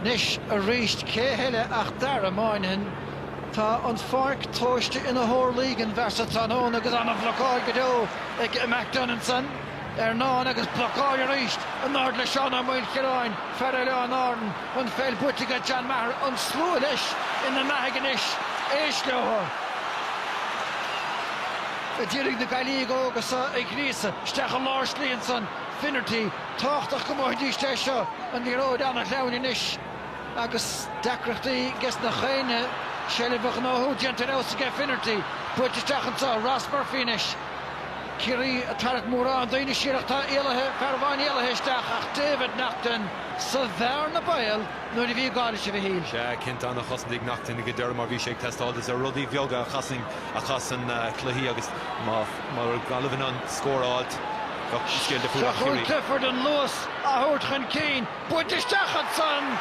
S1: Anois aríst cé heile ach Dara Moynihan. Tá an pháirc tomhaiste ina horlaí ag an bhfear so tráthnóna agus an-bhlocáil go deo ag McDonagh ansan. Ernán agus blocáil arís in airde le Seán Ó Maoilchiaráin, fear Oileáin Árann, an pheil buaite aige John Maher, an slua leis ina mbeathaidh anois, éist leotha a d'iarraidh na Gaillmhigh óga so a ghríosadh isteach i lár slí ansan, Finnerty, tábhachtach go mbuafaidís é seo an liathróid ana shleamhain anois agus deacrachtaí aiges na haoinne seilbh a ghnóthú déanta ar fheabhas aige Finnerty, buailte isteach anso, Ross Murphy anois. Ciarraí ag tarrac mórán daoine siar ach tá éalaithe, fear amháin éalaithe isteach ach David Naughton sa bhearna baoil nuair a bhí gá leis a Mhichíl. Sea, cinnte, ana chosaint
S2: ag Naughton go deireadh mar bhí sé ag teastáil is iad na rudaí beaga a chasann cluichí agus má raibh Gaillimh in ann scór a fháilt, bheadh an scéal difriúil ach Ciarraí. Clifford an
S1: luas á thabhairt chun cinn, buailte isteach ansan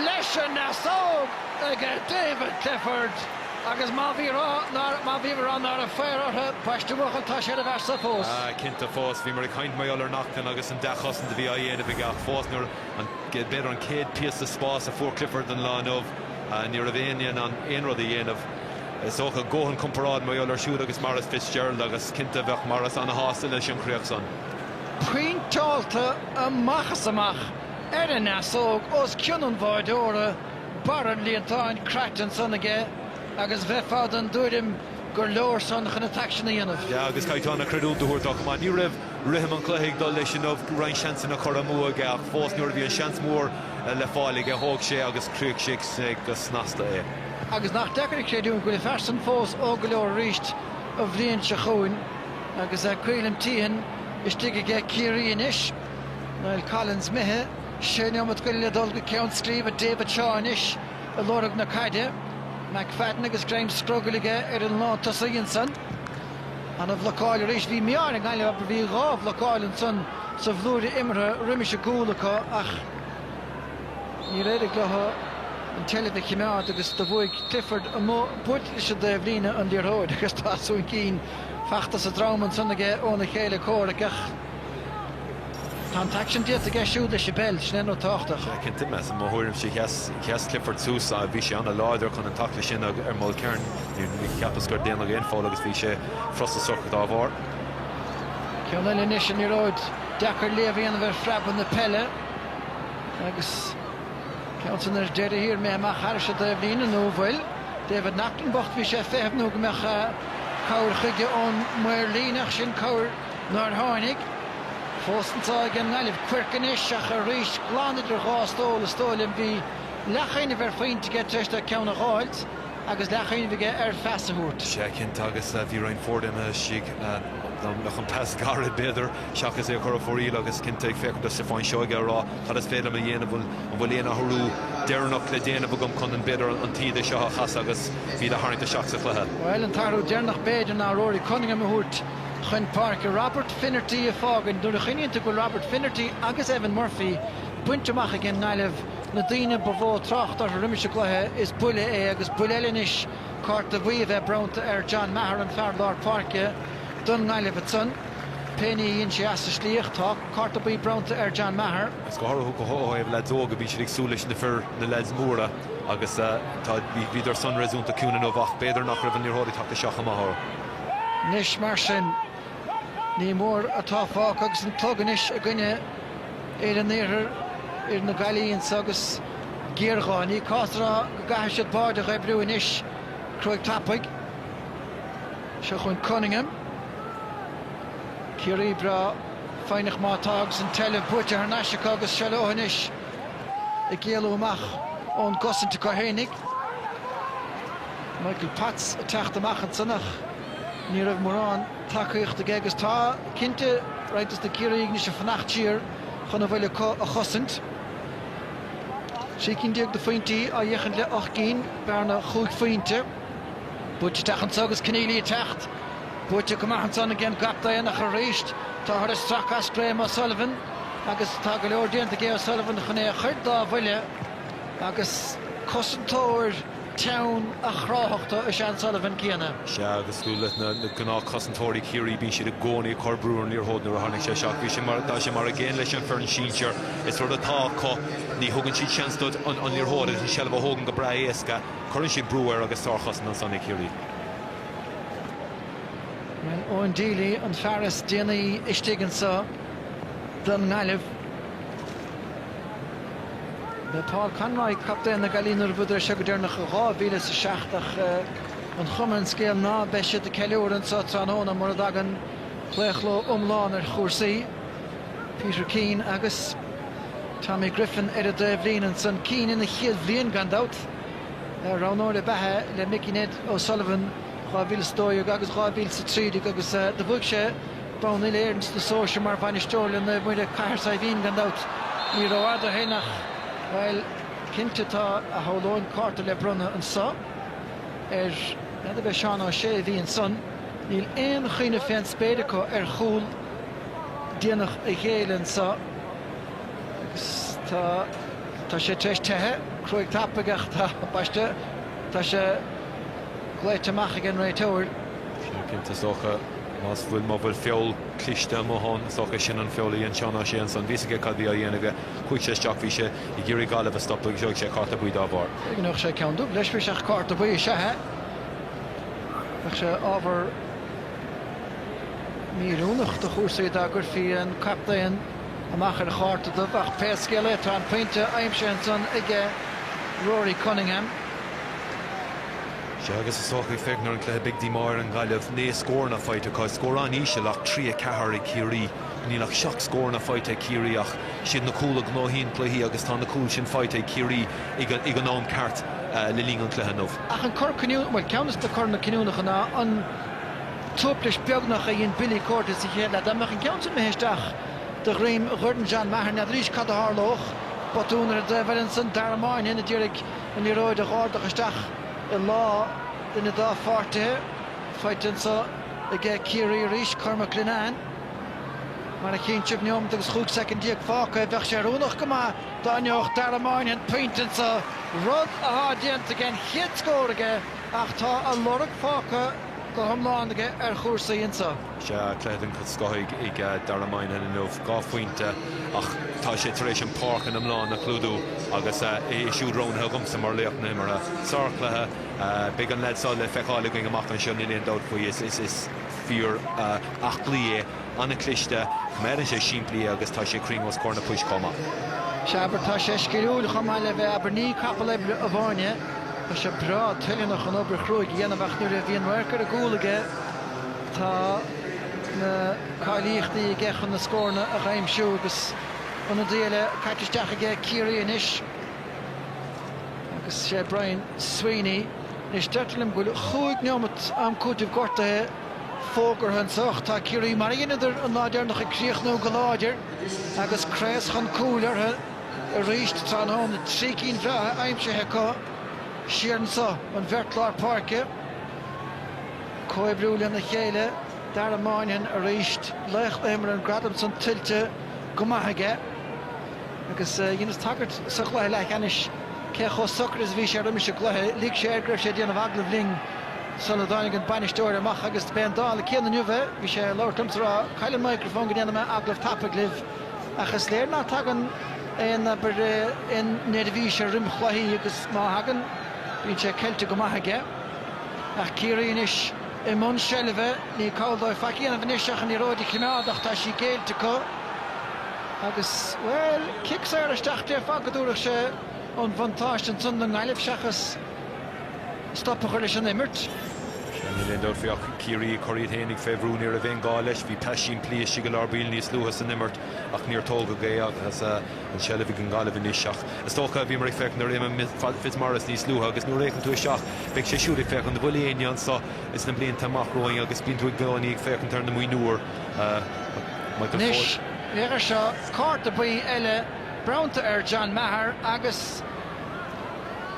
S1: leis an ndeasóg aige David Clifford. Agus má bhí rá nárbh foir orthu baist a bhuachan tá sé ar a mhearsa fós. Ah, cinnte, fós.
S2: Bhíomar ag caint mar gheall ar Naughton agus an dea-chosaint a bhí á dhéanamh aige ach fós nuair, an, b'fhéidir an céad píosa spáis a fuair Clifford an lá inniu, ní raibh éinne in ann aon rud a dhéanamh. Is dócha go gcothaíonn comparáid mar gheall air siúd agus Maurice Fitzgerald agus cinnte bheadh Maurice ana-shásta leis an chríoch san. Pointeáilte
S1: amach is amach ar an ndeasóg os cionn an bháireora. Barr an líontáin craite ansan aige agus bheifeá den tuairim gur leor san chun an t-aicsean a dhéanamh. Sea, agus caithfear ana chreidiúint
S2: a thabhairt dó chomh maith. Ní raibh rithim an chluiche ag dul leis inniu, roinnt seansanna curtha amú aige ach fós nuair a bhí an seans mór le fáil aige, thóg sé agus chríochnaigh sé go snasta é. Agus nach
S1: deacair a chreidiúint go bhfuil an fear san fós óg go leor arís an bhliain seo chugainn agus Caolim Teahan istigh aige Ciarraí anois, Niall Collins imithe. Sé neomat go leith le dul go ceann scríbe David Shaw anois ag lorg na caide. McFadden agus greim scrogaill aige ar an lántosaí ansan. Ana bhlocáil arís. Bhí mí-ádh ar an nGaillimh mar bhí dhá bhlocáil ansan sa bhlúire imeartha roimis an gcúl acu ach níor éirigh leo an tseilbh a chimeád agus do bhuaigh Clifford amuigh buailte leis an dtaobhlíne an liathróid agus tosú chun cinn. Fachta sa drom ansan aige óna chéile comhraic ach. Tá an t-aicsean déanta aige siúd le Sibéal, sin é an ní tábhachtach. Sea, cinnte, measaim. I mo
S2: thuairimse, sheas Clifford suas agus bhí sé an-láidir chun an taicleadh sin ar Mulkern. Ní cheapas gur déanadh aon foul agus bhí sé frustrasach dá bharr.
S1: Ceann eile anois an liathróid deacair léamh a dhéanamh ar phreabadh na peile agus cuma san ar deireadh thiar imithe amach thairis an dtaobhlíne, nó an bhfuil? David Naughton bocht, bhí sé ag feitheamh nó go mbeadh cabhair chuige ón maor líne ach sin cabhair. nár tháinig. Fós an t-ádh ag an nGaillimh Quirke anois ach arís glan idir dhá stól is dóigh liom. Bhí leathchuimhneamh ar phointe aige tar éis dó ceann a dh'fháilt agus leathchuimhneamh
S2: aige ar
S1: phas
S2: a thabhairt.
S1: Sea
S2: cinnte agus
S1: bhí
S2: Ryan Forde imithe istigh, dá mbeadh an pas gairid b'fhéidir, seachas é a chur ar fóraoil agus cinnte ag féachaint do Stiofán Seoige a rá cad is féidir liom a dhéanamh, an bhfuil aon athrú deireanach le déanamh agam chun an b'fhéidir an taoide seo a chasadh agus iad a tharraingt isteach sa chluiche? Bhuel, an t-athrú deireanach
S1: b'fhéidir ná Rory Cunningham a thabhairt. chun páirce Robert Finnerty ag fágaint. Nuair a chuimhníonn tú go bhfuil Robert Finnerty agus Evan Murphy bainte amach ag an nGaillimh, na daoine ba mhó trácht orthu roimis an gcluiche, is buille é agus buille eile anois cárta buí á bheith bronnta ar John Maher, an fear lár páirce don nGaillimh. Ansan, pé ní a dhein sé as an slí ach, tá cárta buí bronnta ar John Maher. Is go háirithe, go háirithe
S2: le leaids óga bíonn siad ag súil leis na fir, na leaids móra agus tá, bhíodar san réasúnta ciúin inniu ach b'fhéidir nach raibh an liathróid ag teacht isteach chomh maith.
S1: Anois mar sin, ní mór atá fágtha agus an clog anois i gcoinne fhir an iarthair, fhir na Gaillimhe anso agus géarghá. Ní cás a rá go gcaithfidh siad báide a dh'oibriú anois, cruaidh tapaidh. Seo chugainn Cunningham, Ciarraí breá foighneach má tá agus an tseilbh buaite thar n-ais acu agus seo leothu anois ag éalú amach ón gcosaint acu fhéinig. Michael Potts ag teacht amach ansan ach ní raibh mórán tacaíochta aige agus tá, cinnte, roinnt de na Ciarraígh anois ag fanacht siar chun a bhfuil acu a chosaint. Trí cinn déag de phointí ag féachaint le ocht gcinn, bearna chúig phointe. Buailte isteach anseo agus Conneely ag teacht. Buaite go maith ansan ag an gcaptaen ach arís táthar ag stracadh as Graham O'Sullivan agus tá go leor déanta aige O'Sullivan chun é a chur dá bhuille agus cosantóir teann ábhar áifeachta is ea an Sullivan céanna. Sea, agus cosúil
S2: le na gnáthchosantóirí Chiarraí, bíonn siad i gcónaí ag cur brú ar an liathróid nuair a tháinig sé isteach. Bhí sé mar, tá sé mar an gcéanna leis an foireann sinsear. Is rud atá acu, ní thugann siad seans duit an liathróid agus an seilbh a thógaint go breá éasca. Cuireann siad brú air agus sárchosaint ansan ag
S1: Ciarraí. Bhuel, Eoin Deely an fear is déanaí istigh anso don nGaillimh. le Paul Conroy, captaen na Gaillimhe nuair a bhuadar é seo go deireanach i 2007 ach an chuma ar an scéal ná beidh siad ag ceiliúradh anseo tráthnóna mura dtagann claochló iomlán ar chúrsaí. Peter Keane agus Tommy Griffin ar an dtaobhlíne ansan, Keane ina chéad bhliain gan dabht roghnóir ab ea é le Mickey Ned O'Sullivan 2012 agus 2013 agus do bhuaigh sé bonn Uile-Éireann sna sóisir mar bhainisteoir le Naomh Muire, Cathair Saidhbhín, gan dabht. Ní rófhada ó shin ach, bhuel, cinnte tá, shamhlóinn, cárta le bronnadh anseo ar, n'fheadar ab é Seán Ó Sé a bhí ansan. Níl aon chuimhneamh fén spéir acu ar chúl déanach a ghéilleadh anseo agus tá, tá sé tar éis teitheadh, cruaidh tapaidh ach tá, baiste, tá sé glaoite amach ag an réiteoir. Cinnte, cinnte, is
S2: dócha. Más fuil má bhfuil feall cliste amuigh ann, is dócha é sin an feall a dhein Seán Ó Sé ansan. Bhí a fhios aige cad bhí á dhéanamh aige. Chuaigh sé isteach, bhí sé ag iarraidh Gaillimh a stopadh agus gheobhaidh sé cárta buí dá bharr. Cé go ngeobhadh sé ceann dubh leis,
S1: bhí sé ach cárta buí is ea é. Bheadh sé ábhar míoiriúnach do chúrsaí dá gcuirfí an captaen amach ar chárta dubh ach pé scéal é tá an pointe aimsithe ansan aige Rory Cunningham.
S2: Sea, agus is dócha, ag féachaint ar an gcluiche, beidh díomá ar an Ghaillimh. Naoi scóranna faighte acu, is scór an-íseal ach trí a ceathair ag Ciarraí. Níl ach seacht scóranna faighte ag Ciarraí ach is iad na cúil a ghnóthaíonn cluichí agus tá na cúil sin faighte ag Ciarraí ag an am ceart le linn an chluiche inniu. Ach an cor cinniúnach,
S1: bhuel, ceann de na coranna cinniúnacha ná an tuaiplis beagnach a dhein Billy Courtney sa chéad leath. Dá mbeadh an ceann sin imithe isteach de dhroim dhorn John Maher, n'fheadaraís cad a tharlódh. Botún ar an dtaobh eile ansan, Dara Moynihan a d'iarraidh. an liathróid a dh'ardach isteach i lámha duine dá pháirtithe faighte anseo aige Ciarraí arís, Cormac Linnane mar a chíonn sibh, neomat agus chúig soicind déag fágtha, bheadh sé oiriúnach go maith dá ngeobhadh Dara Moynihan pointe anseo, rud athá déanta aige, an chéad scór aige ach tá a lorg fágtha go hiomlán aige ar chúrsaí anseo. Sea, cluiche den
S2: scoth ag Dara Moynihan inniu, dhá phointe, ach tá sé tar éis an pháirc ina iomlán a chlúdú agus é siúd roghnaithe agamsa mar laoch na himeartha. Sárchluiche. Beidh an leaid seo le feiceáil againn amach anseo, níl aon dabht faoi. Is fear aclaí é, an-chliste, coimeádann sé simplí é agus tá sé cruinn os comhair na poist chomh maith. Sea, abair, tá
S1: sé sciliúil chomh maith le bheith, abair, ní capall oibre amháin é. Tá sé breá toileanach an obair chruaidh a dhéanamh ach nuair a bhíonn radharc ar an gcúl aige, Tá na cáilíochtaí aige chun na scóranna a aimsiú agus ionadaí eile caite isteach aige, Ciarraí anois, agus sé Brian Sweeney. Anois, deirtear liom go bhfuil chúig neomat am cúitimh gortaithe fógartha anseo ach tá Ciarraí, mar a dheineadar an lá deireanach, ag críochnú go láidir agus craos chun cúil orthu arís tráthnóna. Trí cinn bhreátha aimsithe acu siar anso an bheirt lár páirce. Comhoibriú lena chéile, Dara Moynihan arís, laoch na himeartha, an gradam san tuillte go maith aige. Agus dheineas tagairt sa chluiche leathcheannais cé chomh socair is a bhí sé roimis an gcluiche, lig sé air go raibh sé ag déanamh agallaimh linn sula dtáinig an bainisteoir amach agus b'é an dála céanna inniu é, bhí sé ag labhairt liomsa ag rá cá bhfuil an microphone go ndéana mé agallamh tapaidh libh. Ach is léir ná tagann aon, abair, aon neirbhís air roim chluichí agus má thagann bíonn sé ceilte go maith aige. Ach Ciarraí anois i mbun seilbhe, ní call dóibh faic a dhéanamh anois ach an liathróid a chimeád ach tá sí géillte acu agus, bhuel, cic saor isteach, déarfá go dtabharfadh sé an bhuntáiste ansan don nGaillimh seachas stop a chur leis an imirt. Níl aon dabht
S2: faoi ach Ciarraí ag cur iad féinig fé bhrú, ní raibh aon ghá leis, bhí pas simplí istigh i lár baill níos luaithe san imirt ach níor tógadh é agus, an tseilbh ag an nGaillimh anois ach is dócha bhíomar ag féachaint ar Éamonn Fitzmaurice níos luaithe agus nuair a fhéachann tú isteach beidh sé siúd ag féachaint an bhfuil éinne anso is na blianta amach romhainn agus bíonn tú i gcónaí ag féachaint ar na mionúir.
S1: Anois féach air seo, cárta buí eile bronnta ar John Maher agus,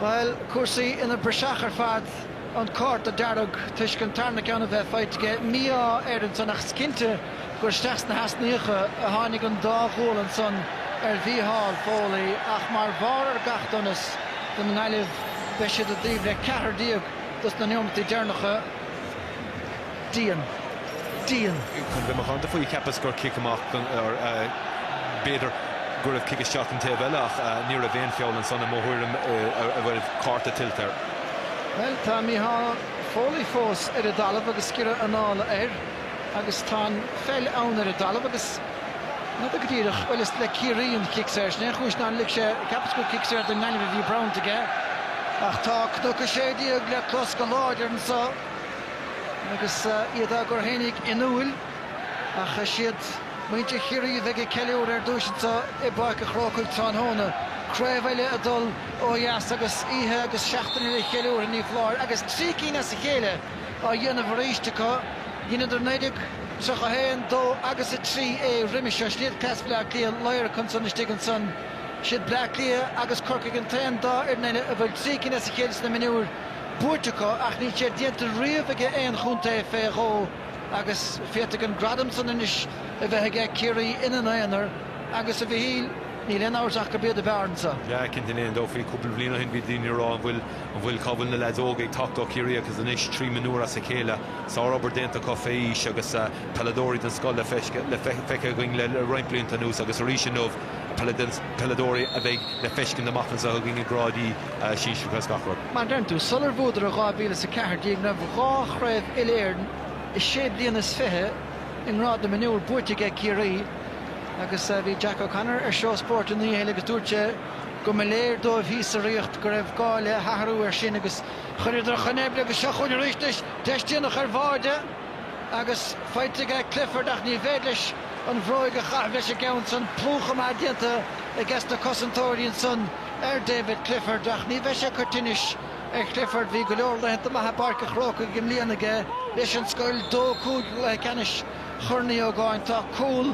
S1: bhuel, cúrsaí ina bpraiseach ar fad, an cárta dearg toisc an tarna ceann a bheith faighte aige, mí-ádh air ansan ach is cinnte gur isteach sna heasnaíocha a tháinig an dá ghualainn san ar Mhícheál Foley ach mar bharr ar gach donas don nGaillimh beidh siad i dtaobh le ceathrar déag dos na neomataí deireanacha. Dian.
S2: Dian. Chun bheith macánta faoi, cheapas gur cic amach, or b'fhéidir go raibh cic isteach don taobh eile ach ní raibh aon feall ansan i mo thuairim a bhfuil cárta tuillte air. Bhuel, tá
S1: Mícheál Foley fós ar an dtalamh agus giorra anála air. agus tá an pheil ann ar an dtalamh agus ní fheadar go díreach, bhuel is le Ciarraí an cic saor, sin é an chúis ná lig sé, cheapas gur cic saor don nGaillimh a bhí bronnta aige, ach tá Cnoc 16 le clos go láidir anseo agus iad á gcur fhéinig in úil ach is iad muintir Chiarraí a bheidh ag ceiliúradh ar dtúis anseo i bPáirc an Chrócaigh tráthnóna, craobh eile ag dul ó dheas agus oíche agus seachtaine de cheiliúrtha ní foláir agus trí cinn as a chéile! á dhéanamh arís acu. Dheineadar 1931, 2 agus 3 é roimis seo. Siad cleas Bleá Cliath iarracht ansan istigh ansan. Siad Bleá Cliath agus Corcaigh an t-aon dá fhoireann eile a bhfuil trí cinn as a chéile sna mionúir buaite acu ach níl sé déanta riamh aige aon chontae fé dhó agus féadfaidh an gradam san anois a bheith aige. Ciarraí ina n-aonar agus, a Mhichíl, níl aon amhras ach gurb iad ab fhearr anso. Yeah, cinnte, gan aon
S2: dabht faoi cúpla bliain ó shin bhí daoine a rá an bhfuil An bhfuil, cá bhfuil na leaids óga ag teacht ó Chiarraí agus anois, trí mhionúir as a chéile, sár obair déanta acu fé aois agus peileadóirí den scoth le feiceáil againn le roinnt blianta anuas agus arís inniu peileadóirí a bheidh le feiscint amach anseo againn i gráidí sinsearacha is gach rud. Mar deireann tú,
S1: sular bhuadar i 2000 is 14, ní raibh ach dhá chraobh uile-Éireann i sé bliana is fiche i ngrád na mionúr buaite aige Ciarraí agus bhí Jack O'Connor ar Seó Spóirt an oíche eile agus dúirt sé, go mba léir dóibh thíos sa Ríocht go raibh gá le hathrú air sin agus chuireadar chun oibre agus seo chugainn arís anois deis déanach ar bháide agus faighte ag Clifford ach níorbh fhéidir leis an bhróig a chaitheamh leis an gceann san, plúchadh maith déanta ages na cosantóirí ansan ar David Clifford ach ní bheidh sé ag cur tinnis ar Chlifford, bhí go leor laethanta maithe i bPáirc an Chrócaigh i mbliana aige leis an scoil, dó cúig i gcluiche ceannais Chorn Uí Ógáin, tá cúl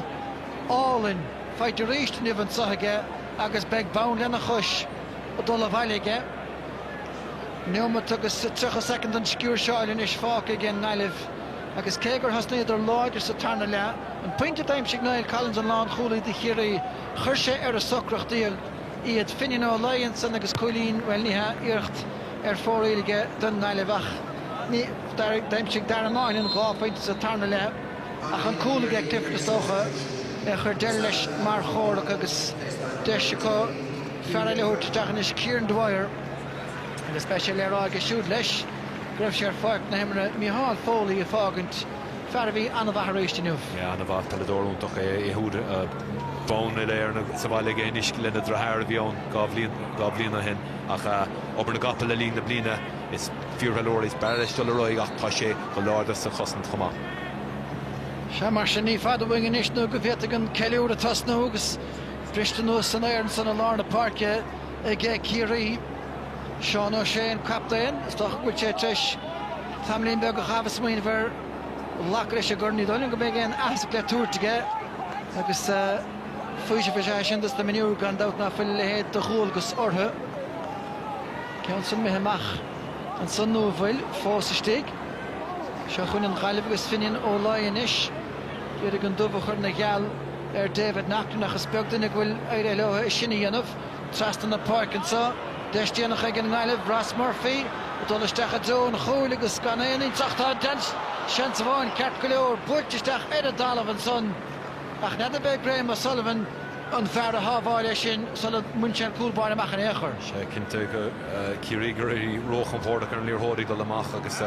S1: álainn. Faighte aríst inniu anso aige agus beidh bonn lena chois ag dul abhaile aige. Neomat agus tríocha soicind den sciúirseáil anois fágtha ag an nGaillimh agus cé gur thosnaíodar láidir sa tarna leath, an pointe a d'aimsigh Niall Collins, an lánchúlaí do Chiarraí, chuir sé ar a socracht iad. Finian Ó Laoi ansan agus cúilín, bhuel ní hea, iarracht ar fóraoil aige don nGaillimh ach ní, d'aimsigh Dara Moynihan dhá phointe sa tarna leath. Ach an cúl aige Clifford is dócha a chuir deireadh leis mar chomhrac agus deis acu fear eile a thabhairt isteach anois, Kieran Dwyer, agus beidh sé le rá aige siúd leis go raibh sé ar pháirc na himeartha Micheál Foley ag fágaint, fear a bhí an-mhaith arís inniu. An-mhaith,
S2: peileadóir iontach é siúd. Bonn Uile-Éireann sa bhaile aige anois lena dhritheár a bhí ann dhá bhliain ó shin ach obair na gcapall le linn na bliana is fíorpheileadóir is b'fhearr leis dul ar aghaidh ach tá sé go láidir sa chosaint chomh maith.
S1: Sea, mar sin, ní fada uainn anois nó go bhféadfaidh an ceiliúradh tosnú agus briste anuas san aer ansan i lár na páirce age Ciarraí. Seán O'Shea an captaen. Is dócha go bhfuil sé tar éis tamaillín beag a chaitheamh ag smaoineamh ar ghlacadh leis an gcorn. Ní dóigh liom go mbeidh aon aitheasc le tabhairt aige agus faoiseamh is ea é sin dos na mionúir gan dabht ná fuil a leithéid de dhualgas orthu. Ceann san imithe amach ansan nó an bhfuil fós istigh? Seo chugainn an Ghaillimh agus Finian Ó Laoi anois. ag iarraidh an dubh a chur ina gheal ar David Naughton ach is beag duine go bhfuil éirithe leo é sin a dhéanamh. Trasna na páirce anseo, deis déanach ag an nGaillimh, Ross Murphy ag dul isteach i dtreo an chúil agus gan éinne ag teacht. Tá an t-aon seans amháin ceart go leor, buailte isteach ar an dtalamh ansan ach n'fheadar arbh é Graham O'Sullivan. an fear a shábháil é sin sula mbain sé an cúl báire amach in aon chor. Sea cinnte
S2: Ciarraí ag éirí róchompordach ar an liathróid ag dul amach agus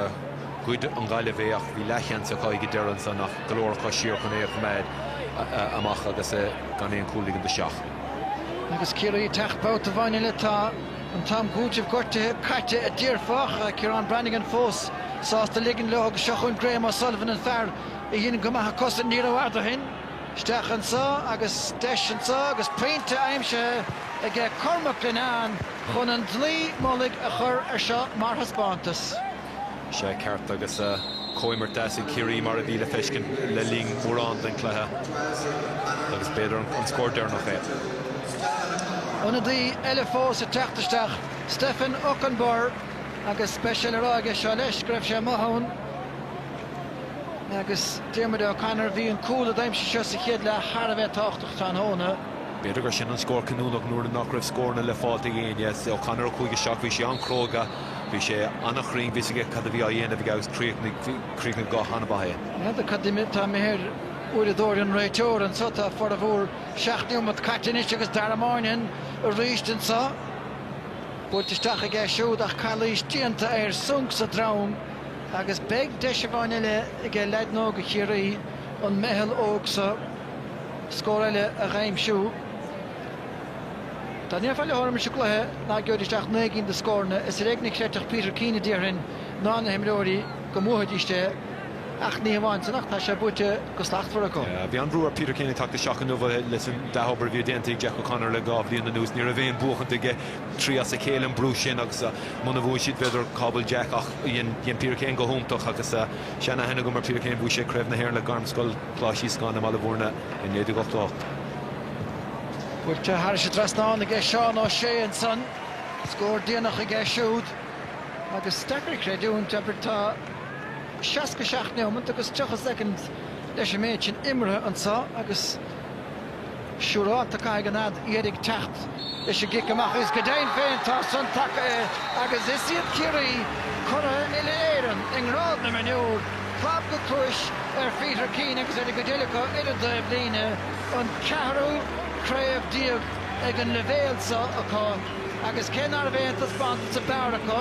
S2: ghoid an Ghaillimh é ach bhí leathsheans acu ag an deireadh ansan ach go leor acu siar chun é a choimeád amach agus gan aon chúl a ligint isteach. Agus
S1: Ciarraí ag teacht babhta amháin eile tá an t-am cúitimh gortuithe caite a déarfá. Ciarán Branagan fós sásta ligint leo agus seo chugainn Graham O'Sullivan an fear a dhein go maith a cosaint ní rófhada ó shin. Isteach anso agus deis anso agus pointe aimsithe aige Cormac Linnane chun an dlaoi mullaigh a chur ar seo mar thaispeántas. Sea,
S2: ceart agus comhimirt deas ag Ciarraí mar a bhí le feiscint le linn mórán den cluiche agus b'fhéidir an scór deireanach
S1: é. Ionadaí eile fós ag teacht isteach, Stefan Okunbor agus beidh sé le rá aige seo leis go raibh sé amuigh ann. Agus Diarmuid O'Connor, bhí an cúl a d'aimsigh sé sa chéad leath thar a bheith tábhachtach tráthnóna. B'fhéidir gur sin
S2: an scór cinniúnach nuair nach raibh scóranna le fáil ag éinne. O'Connor a chuaigh isteach, bhí sé an-chróga, bhí sé an-chruinn, bhí 'fhios aige cad a bhí á dhéanamh aige agus chríochnaigh go han-mhaith é. N'fheadar cad
S1: atá imithe ar uaireadóir an réiteora anseo. Tá formhór seacht neomat caite anois agus Dara Moynihan arís anseo. Buailte isteach aige siúd ach calaois déanta air. Sonc sa droim. Agus beidh deis amháin eile aige leaideanna óga Chiarraí, an meitheal óg seo, scór eile a dh'aimsiú. Dá ndéarfá leotha roimis an gcluiche ná geobhaidís ach naoi gcinn de scóranna, is ar éigean a chreidfeadh Peter Keane, a déarfainn, ná na himreoirí go mbuafaidís é. Ach ní hamháin sin ach tá sé buaite go slachtmhar acu. Bhí an-bhrú ar Peter Keane
S2: ag teacht isteach inniu leis an dea-obair a bhí déanta ag Jack O'Connor le dhá bhliain anuas. Ní raibh aon bhuachaint aige trí as a chéile an brú sin agus muna mbuann siad b'fhéidir cá bhfuil Jack ach dhein Peter Keane go hiontach agus seanaithne agam ar Peter Keane bhuaidh sé Craobh na hÉireann le Gairmscoil Coláiste Íosagáin i mBaile Mhúirne i 1988.
S1: Buailte thairis an dtrasnán aige Seán Ó Sé ansan. Scór déanach aige siúd agus is deacair a chreidiúint tá seasca seacht neomant agus tríocha soicind leis an méid sin imeartha anso agus. Siúráilte caithfidh an fhead dheiridh teacht leis an gcic amach agus go deimhin féin tá san tagtha air agus is iad Ciarraí, curaithe uile-Éireann i ngrád na mionúr, clab go cluais ar Pheter Keane agus ar an gcuid eile acu ar an dtaobh líne, an ceathrú craobh déag ag an leibhéal seo acu agus cé nárbh aon taispeántas sa mbarr acu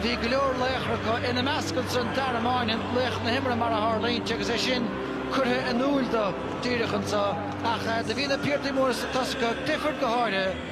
S1: bhí go leor laochra acu, ina measc ansin Darragh Moynan, laoch na himeartha mar a tharlaíonn sé agus é sin curtha in iúl dó díreach ansan, ach do bhí na piardaí móra sa tosach, Clifford go háirithe.